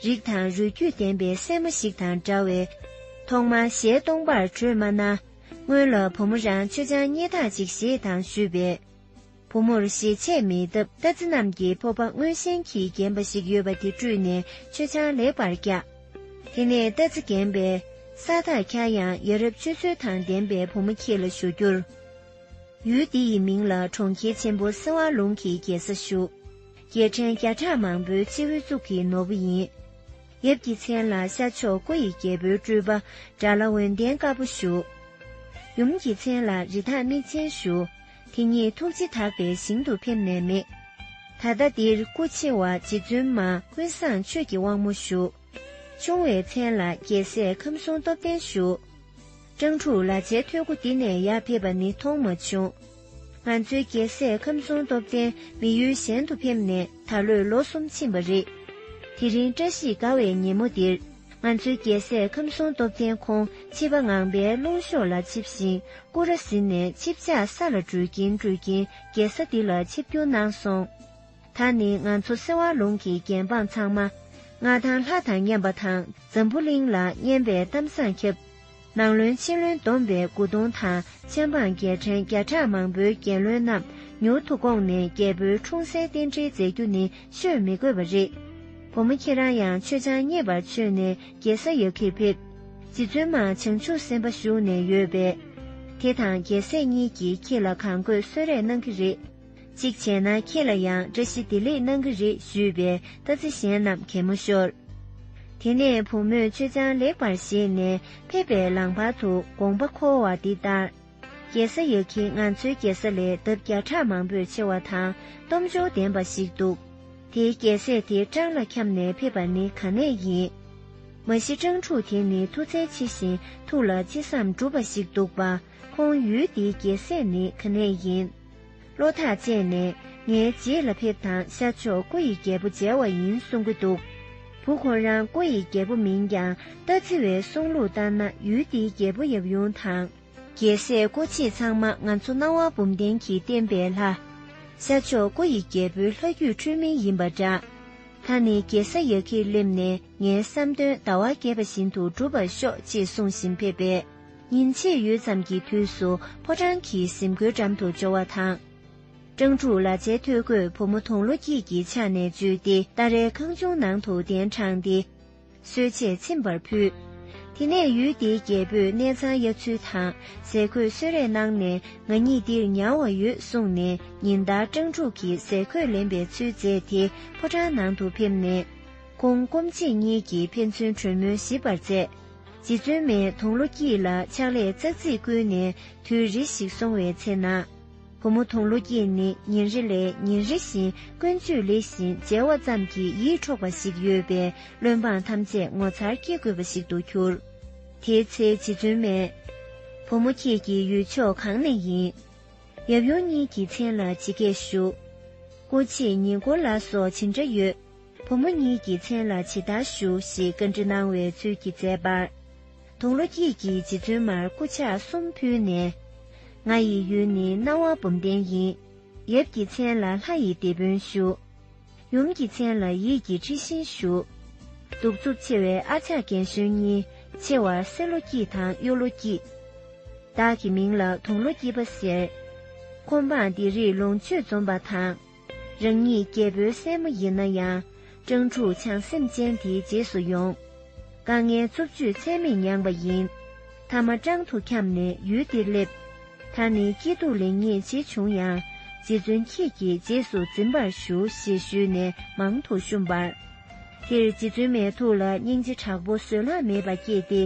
རིགས་དང་རུས་རྒྱུད་ལྡན་པའི་སྲས་མོ་ཞིག་དང་འདྲ་བས། ཐོག་མར་ཞལ་སྟོང་པར་བྲོས་སྨྲ་ན། སྔོན་ལ་བུ་མོ་རང་ཆུ་ཆང་རྙེད་ཐག་ཅིག་བཞེས་དང་ཞུས་པས། བུ་མོར་ཞེ་ཆད་མེད་སྟབས་རྟ་རྫི་རྣམས་ཀྱི་ཕོ་བ་སྔོན་བཞིན་གྱིས་རྒན་པ་ཞིག་ཡོད་པ་དེ་བཀྲུས་ནས་ཆུ་ཆང་ལེགས་པར་བཀྱག། དེ་ནས་རྟ་རྫི་རྒན་པས། ས་ཐག་འཁྱར་ཡང་ཡ་རབས་སྤྱོད་ཚུལ་དང་ལྡན་པའི་བུ་མོ་ཁྱེད་ལ་ཞུ་རྒྱུར། ཡུལ་འདི་ཡི་མིང་ལ་གྲོང་ཁྱེར་ཆེན་པོ་སེ་བ་ལུང་གི་རྒྱལ་ས་ཞུགས། རྒྱལ་ཕྲན་བརྒྱ་ཕྲག་མང་པོའི་སྤྱི་བོའི་གཙུག་གི་ནོར་བུ་ཡིན། ཡབ་ཀྱི་མཚན་ལ་ཤར་ཕྱོགས་སྐུ་ཡི་རྒྱལ་པོའི་སྤྲུལ་པ་དགྲ་བླ་འོན་ལྡན་དཀར་པོ་ཞུགས། ཡུམ་གྱི་མཚན་ལ་རི་དྭགས་མིག་ཅན་ཞུགས། དེ་ཉིད་ཐུགས་རྗེ་དག་པའི་ཞིང་དུ་ཕེབས་ནས་མེད། ད་ལྟ་འདིར་སྐུ་ཆེ་བ་རྗེ་བཙུན་མ་ཀུན་བཟང་ཆོས་ཀྱི་དབང་མོ་ཞུགས། ཆུང་བའི་མཚན་ལ་རྒྱལ་སྲས་ཁམས་གསུམ་སྟོབས་ལྡན་ཞུགས། སྤྲང་ཕྲུག་ལ་ཆའི་ཐོད་སྐུ་འདི་ནས་ཡར་ཕེབས་པ་ནི་མཐོང་མ་བྱུང། ང་ཚོའི་རྒྱལ་སྲས་ཁམས་གསུམ་སྟོབས་ལྡན་མི་ཡུལ་གཞན་དུ་ཕེབས་ནས་ད་ལོས་ལོ་གསུམ་ཕྱིན་པ་རེད། དེ་རིང་བཀྲ་ཤིས་དགའ་བའི་ཉིན་མོ་འདིར། ང་ཚོའི་རྒྱལ་སྲས་ཁམས་གསུམ་སྟོབས་ལྡན་ཁོང་ཕྱི་པ་ངང་པའི་རླུང་གཤོག་ལ་འཆིབས་ཤིང་སྐུ་ར་ཟིན་ནས་ཆིབས་ཆགས་ས་ལ་འགྲུལ་གྱིན་འགྲུལ་གྱིན་རྒྱལ་ས་འདི་ལ་ཆིབས་བསྒྱུར་གནང་སོང། ད་ནི་ང་ཚོ་སེ་བ་ལུང་གི་རྒྱལ་འབངས་ཚང་མ་ང་དང་ལྷ་དང་མཉམ་པ་དང་འཛམ་བུ་གླིང་ལ་སྙན་པའི་གཏམ་བཟང་ཁྱབ། ནང་བློན་ཕྱི་བློན་བསྡོམས་པས་དགུ་སྟོང་དང་མཆན་འབངས་རྒྱལ་ཕྲན་བརྒྱ་ཕྲག་མང་པོའི་རྒྱལ་བློན་རྣམས་མྱུར་དུ་བསྐོངས་ནས་རྒྱལ་པོའི་འཁྲུངས་སའི་རྟེན་འབྲེལ་མཛད་རྒྱུ་ནི་ཤོད་མི་དགོས་པ་རེད། བུ་མོ་ཁྱེད་རང་ཡང་ཆོས་འཆང་རྙེད་པར་ཆོས་ནས་རྒྱལ་ས་ཡ་ཁིར་ཕེབས། རྗེ་བཙུན་མ་བྱང་ཆུབ་སེམས་དཔའ་བཞུགས་ནས་ཡོད་པས། དེ་དང་རྒྱལ་སྲས་གཉིས་ཀྱིས་ཁྱེད་ལ་གང་དགོས་གསོལ་རས་གནང་གི་རེད། གཅིག་བྱས་ན་ཁྱེད་ལ་ཡང་བཀྲ་ཤིས་བདེ་ལེགས་གནང་གི་རེད་ཞུས་པས་རྟ་རྩེ་གཞན་རྣམས་གད་མོ་ཤོར། དེ་ནས་བུ་མོས་ཆོས་ཅང་ལེགས་པར་བཞེས་ནས་ཕེབས་པའི་ལམ་བར་དུ་དགོངས་པ་འཁོར་བ་འདི་ལྟར། རྒྱལ་ས་ཡག་གི་ང་ཚོའི་རྒྱལ་ས་ལས་འདབ་བརྒྱ་ཕྲག་མང་པོས་ཆེ་བ་དང་སྟོབས་འབྱོར་ལྡན་པ་ཞིག་འདུག་དེའི་རྒྱལ་སྲས་དེ་སྤྲང་ལ་འཁྱམས་ནས་ཕེབས་པ་ནི་ག་ནས་ཡིན། མ་གཞི་སྤྲང་ཕྲུག་དེ་ནི་མཐུ་རྩལ་ཆེ་ཞིང་ཐུགས་ལ་ཅི་བསམ་འགྲུབ་པ་ཞིག་འདུག་པ་ཁོང་ཡུལ་འདིའི་རྒྱལ་སྲས་ནི་ག་ནས་ཡིན། བློ་ཐག་བཅད་ནས་ངའི་རྗེས་ལ་ཕེབས་དང་ཤར་ཕྱོགས་སྐུ་ཡི་རྒྱལ་པོ་མཇལ་བ་ཡིན་གསུང་གི་འདུག་བུ་ཁོ་རང་སྐུ་ཡི་རྒྱལ་པོ་མིན་ཀྱང་རྟ་ཚི་བའི་གསུང་ལུགས་ལྟར་ན་ཡུལ་འདིའི་རྒྱལ་པོ་ཡབ་ཡུམ་དང། རྒྱལ་སྲས་སྐུ་མཆེད་ཚང་མ་ང་ཚོ་སྣང་བ་འབུམ་ལྡན་གྱི་བསྟན་པའི་ལྷ། ཤར་ཕྱོགས་སྐུ་ཡི་རྒྱལ་པོའི་ལྷ་རྒྱུད་འཁྲུལ་མིན་ཡིན་པ་འདྲ། ད་ནི་རྒྱལ་ས་ཡག་གིས་སླེབས་ནས་ངའི་བསམ་དོན་ཟླ་བ་རྒྱས་པ་བཞིན་དུ་འགྲུབ་པར་ཤོག་ཅེས་གསུང་བཞིན་ཕེབས་པས། ཉིན་ཕྱེད་ཡོལ་ཙམ་གྱི་དུས་སུ་ཕོ་བྲང་གི་གཟིམ་སྒོའི་འགྲམ་དུ་འབྱོར་བ་དང། སྤྲང་ཕྲུག་ལ་ཆའི་ཐོད་གོས་བུ་མོ་དུང་ལོ་སྐྱིད་ཀྱི་ཕྱག་ནས་འཇུས་ཏེ་སྟ་རའི་ཁང་ཆུང་ནང་དུ་གདན་དྲངས་ཏེ། གསོལ་ཆས་ཚིམ་པར་ཕུལ། དེ་ནས་ཡུལ་དེའི་རྒྱལ་པོས་གནས་ཚང་གཡར་ཚུལ་དང་ཟས་གོས་གསོལ་རས་གནང་ནས་ང་ཉིད་འདིར་ཉར་བ་ཡོད་གསུངས་ནས་ཉིན་ལྟར་སྤྲང་ཕྲུག་གིས་ཟས་གོས་ལེན་པའི་ཚུལ་མཛད་དེ་ཕོ་བྲང་ནང་དུ་ཕེབས་ནས། ཁོང་སྐོམ་ཆེད་གཉིས་ཀྱིས་ཕན་ཚུན་གྲོས་མོལ་ཞིབ་པར་མཛད། རྗེ་བཙུན་མས་དུང་ལོ་སྐྱིད་ལ་ཕྱག་ལས་ཙག་ཙིག་བསྐུལ་ནས་དུས་རེ་ཞིག་སོང་བའི་ཚེ་ན། བུ་མོ་དུང་ལོ་སྐྱིད་ནི་ཉིན་རེ་ལས་ཉིན་རེ་བཞིན་ཀུན་སྤྱོད་ལེགས་ཤིང་མཇལ་བ་ཙམ་གྱིས་ཡིད་འཕྲོག་པ་ཞིག་ཡོད་པས་བློན་འབངས་ཐམས་ཅད་ངོ་མཚར་སྐྱེ་དགོས་པ་ཞིག་ཏུ་གྱུར། དེའི་ཚེ་རྗེ་བཙུན་མས། བུ་མོ་ཁྱེད་ཀྱི་ཡུལ་ཕྱོགས་གང་ནས་ཡིན། ཡབ་ཡུམ་གཉིས་ཀྱི་མཚན་ལ་ཇི་སྐད་ཞུ། སྐུ་མཆེད་ཉིད་སྐོར་ལ་སོགས་ཇི་འདྲ་ཡོད། བུ་མོ་གཉིས་ཀྱི་མཚན་ལ་ཇི་ལྟར་ཞུ་ཞེས་བཀའ་འདྲི་གནང་བའི་ཚུལ་གྱིས་མཛད་པར། དུང་ལོ་སྐྱིད་ཀྱིས་རྗེ་བཙུན་མར་སྐུ་ཕྱག་གསུམ་ཕུལ་ནས། ང་ཡི་ཡུལ་ནི་སྣང་བ་བུམ་ལྡན་ཡིན། ཡབ་ཀྱི་མཚན་ལ་ལྷ་ཡི་སྡེ་དཔོན་ཞུ། ཡུམ་གྱི་མཚན་ལ་ཡིད་ཀྱི་འཁྲི་ཤིང་ཞུ། གདུག་རྩུབ་ཆེ་བའི་ཨ་ཅག་རྒན་གཞོན་གཉིས་ཆེ་བར་སེར་ལོ་སྐྱིད་དང་གཡུ་ལོ་སྐྱིད། བདག་གི་མིང་ལ་དུང་ལོ་སྐྱིད་པ་ཟེར། ཁོ་འབངས་འདི་རིགས་ལོངས་སྤྱོད་འཛོམས་པ་དང། རང་ཉིད་རྒྱལ་པོའི་སྲས་མོ་ཡིན་ན་ཡང། སྤྲང་ཕྲུག་བྱང་སེམས་ཅན་དེའི་རྗེས་སུ་ཡོང། དཀའ་ངལ་རྩུབ་སྤྱོད་ཚད་མེད་མྱངས་པ་ཡིན། མཐའ་མ་སྤྲང་དུ་འཁྱམས་ནས་ཡུལ་འདིར་སླེབས། ད་ནི་སྐྱིད་སྡུག་ལེགས་ཉེས་ཇི་བྱུང་ཡང། རྗེ་བཙུན་ཁྱེད་ཀྱི་རྗེས་སུ་འཛིན་པར་ཞུ་ཞེས་ཞུས་ནས་མང་དུ་བཤུམས་པར། དེར་རྗེ་བཙུན་མའི་ཐུགས་ལ་སྙིང་རྗེ་དྲག་པོ་བཟོད་གླགས་མེད་པ་སྐྱེས་ཏེ།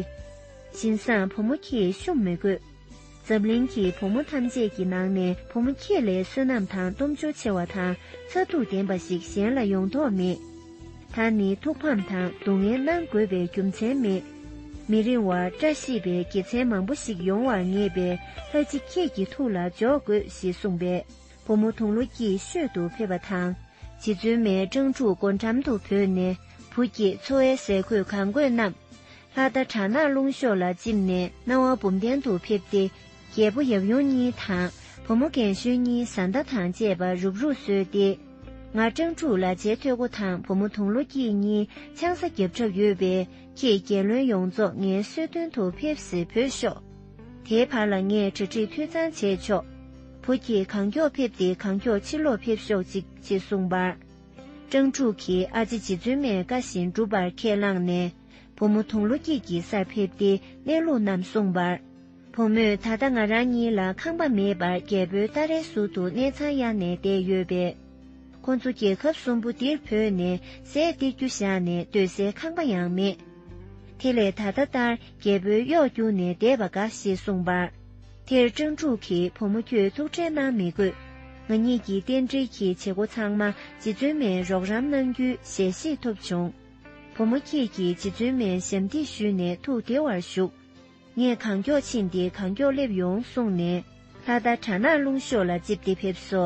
བཞིན་བཟང་བུ་མོ་ཁྱེད་བཤུམ་མི་དགོས། འཛམ་གླིང་གི་བུ་མོ་ཐམས་ཅད་ཀྱི་ནང་ནས་བུ་མོ་ཁྱེད་ལས་བསོད་ནམས་དང་གཏུམ་སྦྱོར་ཆེ་བ་དང་མཚར་སྡུག་ལྡན་པ་ཞིག་གཞན་ལ་ཡོང་དོགས་མེད། ད་ནི་ཐུགས་ཕམ་དང་སྡུག་བསྔལ་གནང་དགོས་པའི་རྒྱུ་མཚན་མེད། མི་རིང་བར་བཀྲ་ཤིས་པའི་དགེ་མཚན་མང་པོ་ཞིག་ཡོང་བར་ངེས་པས་ལྷ་རྗེ་ཁྱེད་ཀྱི་ཐུགས་ལ་འཇོག་དགོས་ཞེས་གསུངས་པས་བུ་མོ་དུང་ལོ་སྐྱིད་ཤོད་དུ་ཕེབས་པ་དང། རྗེ་བཙུན་མའི་སྤྲང་ཕྲུག་སྒོ་འགྲམ་དུ་བུད་ནས་བུ་སྐྱེས་འཚོ་བའི་ཟས་གོས་གང་དགོས་རྣམས། ལྷ་རྟ་བྲག་ནག་ཀླུང་ཤོག་ལ་བཅིབས་ནས་སྣང་བ་འབུམ་ལྡན་དུ་ཕེབས་ཏེ། རྒྱལ་པོ་ཡབ་ཡུམ་གཉིས་དང་བུ་མོ་རྒན་གཞོན་གཉིས་བཟའ་ཟླ་དང་བཅས་པ་རུབ་རུབ་གསོལ་ཏེ། ང་སྤྲང་ཕྲུག་ལ་བྱད་ཐོད་སྒོ་དང་བུ་མོ་དུང་ལོ་སྐྱིད་གཉིས་ཆང་ས་རྒྱབ་གྲབས་ཡོད་པས་ཁྱེད་རྒྱལ་བློན་ཡོངས་རྫོགས་ངའི་གསོལ་སྟོན་དུ་ཕེབས་སེ་བོས་ཤོག། དེའི་བར་ལ་ངས་གྲ་སྒྲིག་འཐུས་ཚང་བྱས་ཆོག། བུ་ཁྱེད་གང་མགྱོགས་ཕེབས་ཏེ་གང་མགྱོགས་ཕྱིར་ལོག་ཕེབས་ཤོག་ཅིག་ཅེས་གསུངས་པར། སྤྲང་ཕྲུག་གིས་ཨ་ཅེ་རྗེ་བཙུན་མའི་བཀའ་བཞིན་བསྒྲུབ་པར་ཁས་བླངས་ནས། བུ་མོ་དུང་ལོ་སྐྱིད་ཀྱི་སར་ཕེབས་ཏེ་གནས་ལུགས་རྣམས་གསུངས་པར། བུ་མོས་ད་ལྟ་ང་རང་གཉིས་ལ་ཁང་པ་མེད་པར་རྒྱལ་པོའི་སྟ་རེའི་ཟུར་དུ་གནས་ཚང་གཡར་ནས་བསྡད་ཡོད་པས། ཁོ་ཚོ་རྒྱལ་ཁབ་གསུམ་པོ་འདིར་བོས་ནས་ཟས་སྟེར་རྒྱུ་བཞག་ནས་སྡོད་སའི་ཁང་པ་ཡང་མེད། དེ་ལས་ད་ལྟ་ལྟར་རྒྱལ་པོའི་གཡོག་བརྒྱུགས་ནས་བསྡད་པ་དགའ་ཞེས་གསུངས་པར། དེར་ཀྲང་ཀྲུག་གིས་བུ་མོ་ཁྱོད་ཐུགས་ཁྲལ་གནང་མི་དགོས། ང་གཉིས་ཀྱི་རྟེན་འབྲེལ་གྱི་བྱེད་སྒོ་ཚང་མ་རྗེ་བཙུན་མས་རོགས་རམ་གནང་རྒྱུའི་ཞལ་བཞེས་ཐོབ་བྱུང། བུ་མོ་ཁྱེད་ཀྱིས་རྗེ་བཙུན་མའི་ཞབས་འདེགས་ཞུས་ནས་ཐུགས་བདེ་བར་བཞུགས། ངས་གང་མགྱོགས་ཕྱིན་ཏེ་གང་མགྱོགས་སླེབས་ཡོང་གསུངས་ནས། ལྷ་ད་གྲ་ནག་རླུང་ཤོག་ལ་རྩིབས་འདི་ཕེབས་སོ།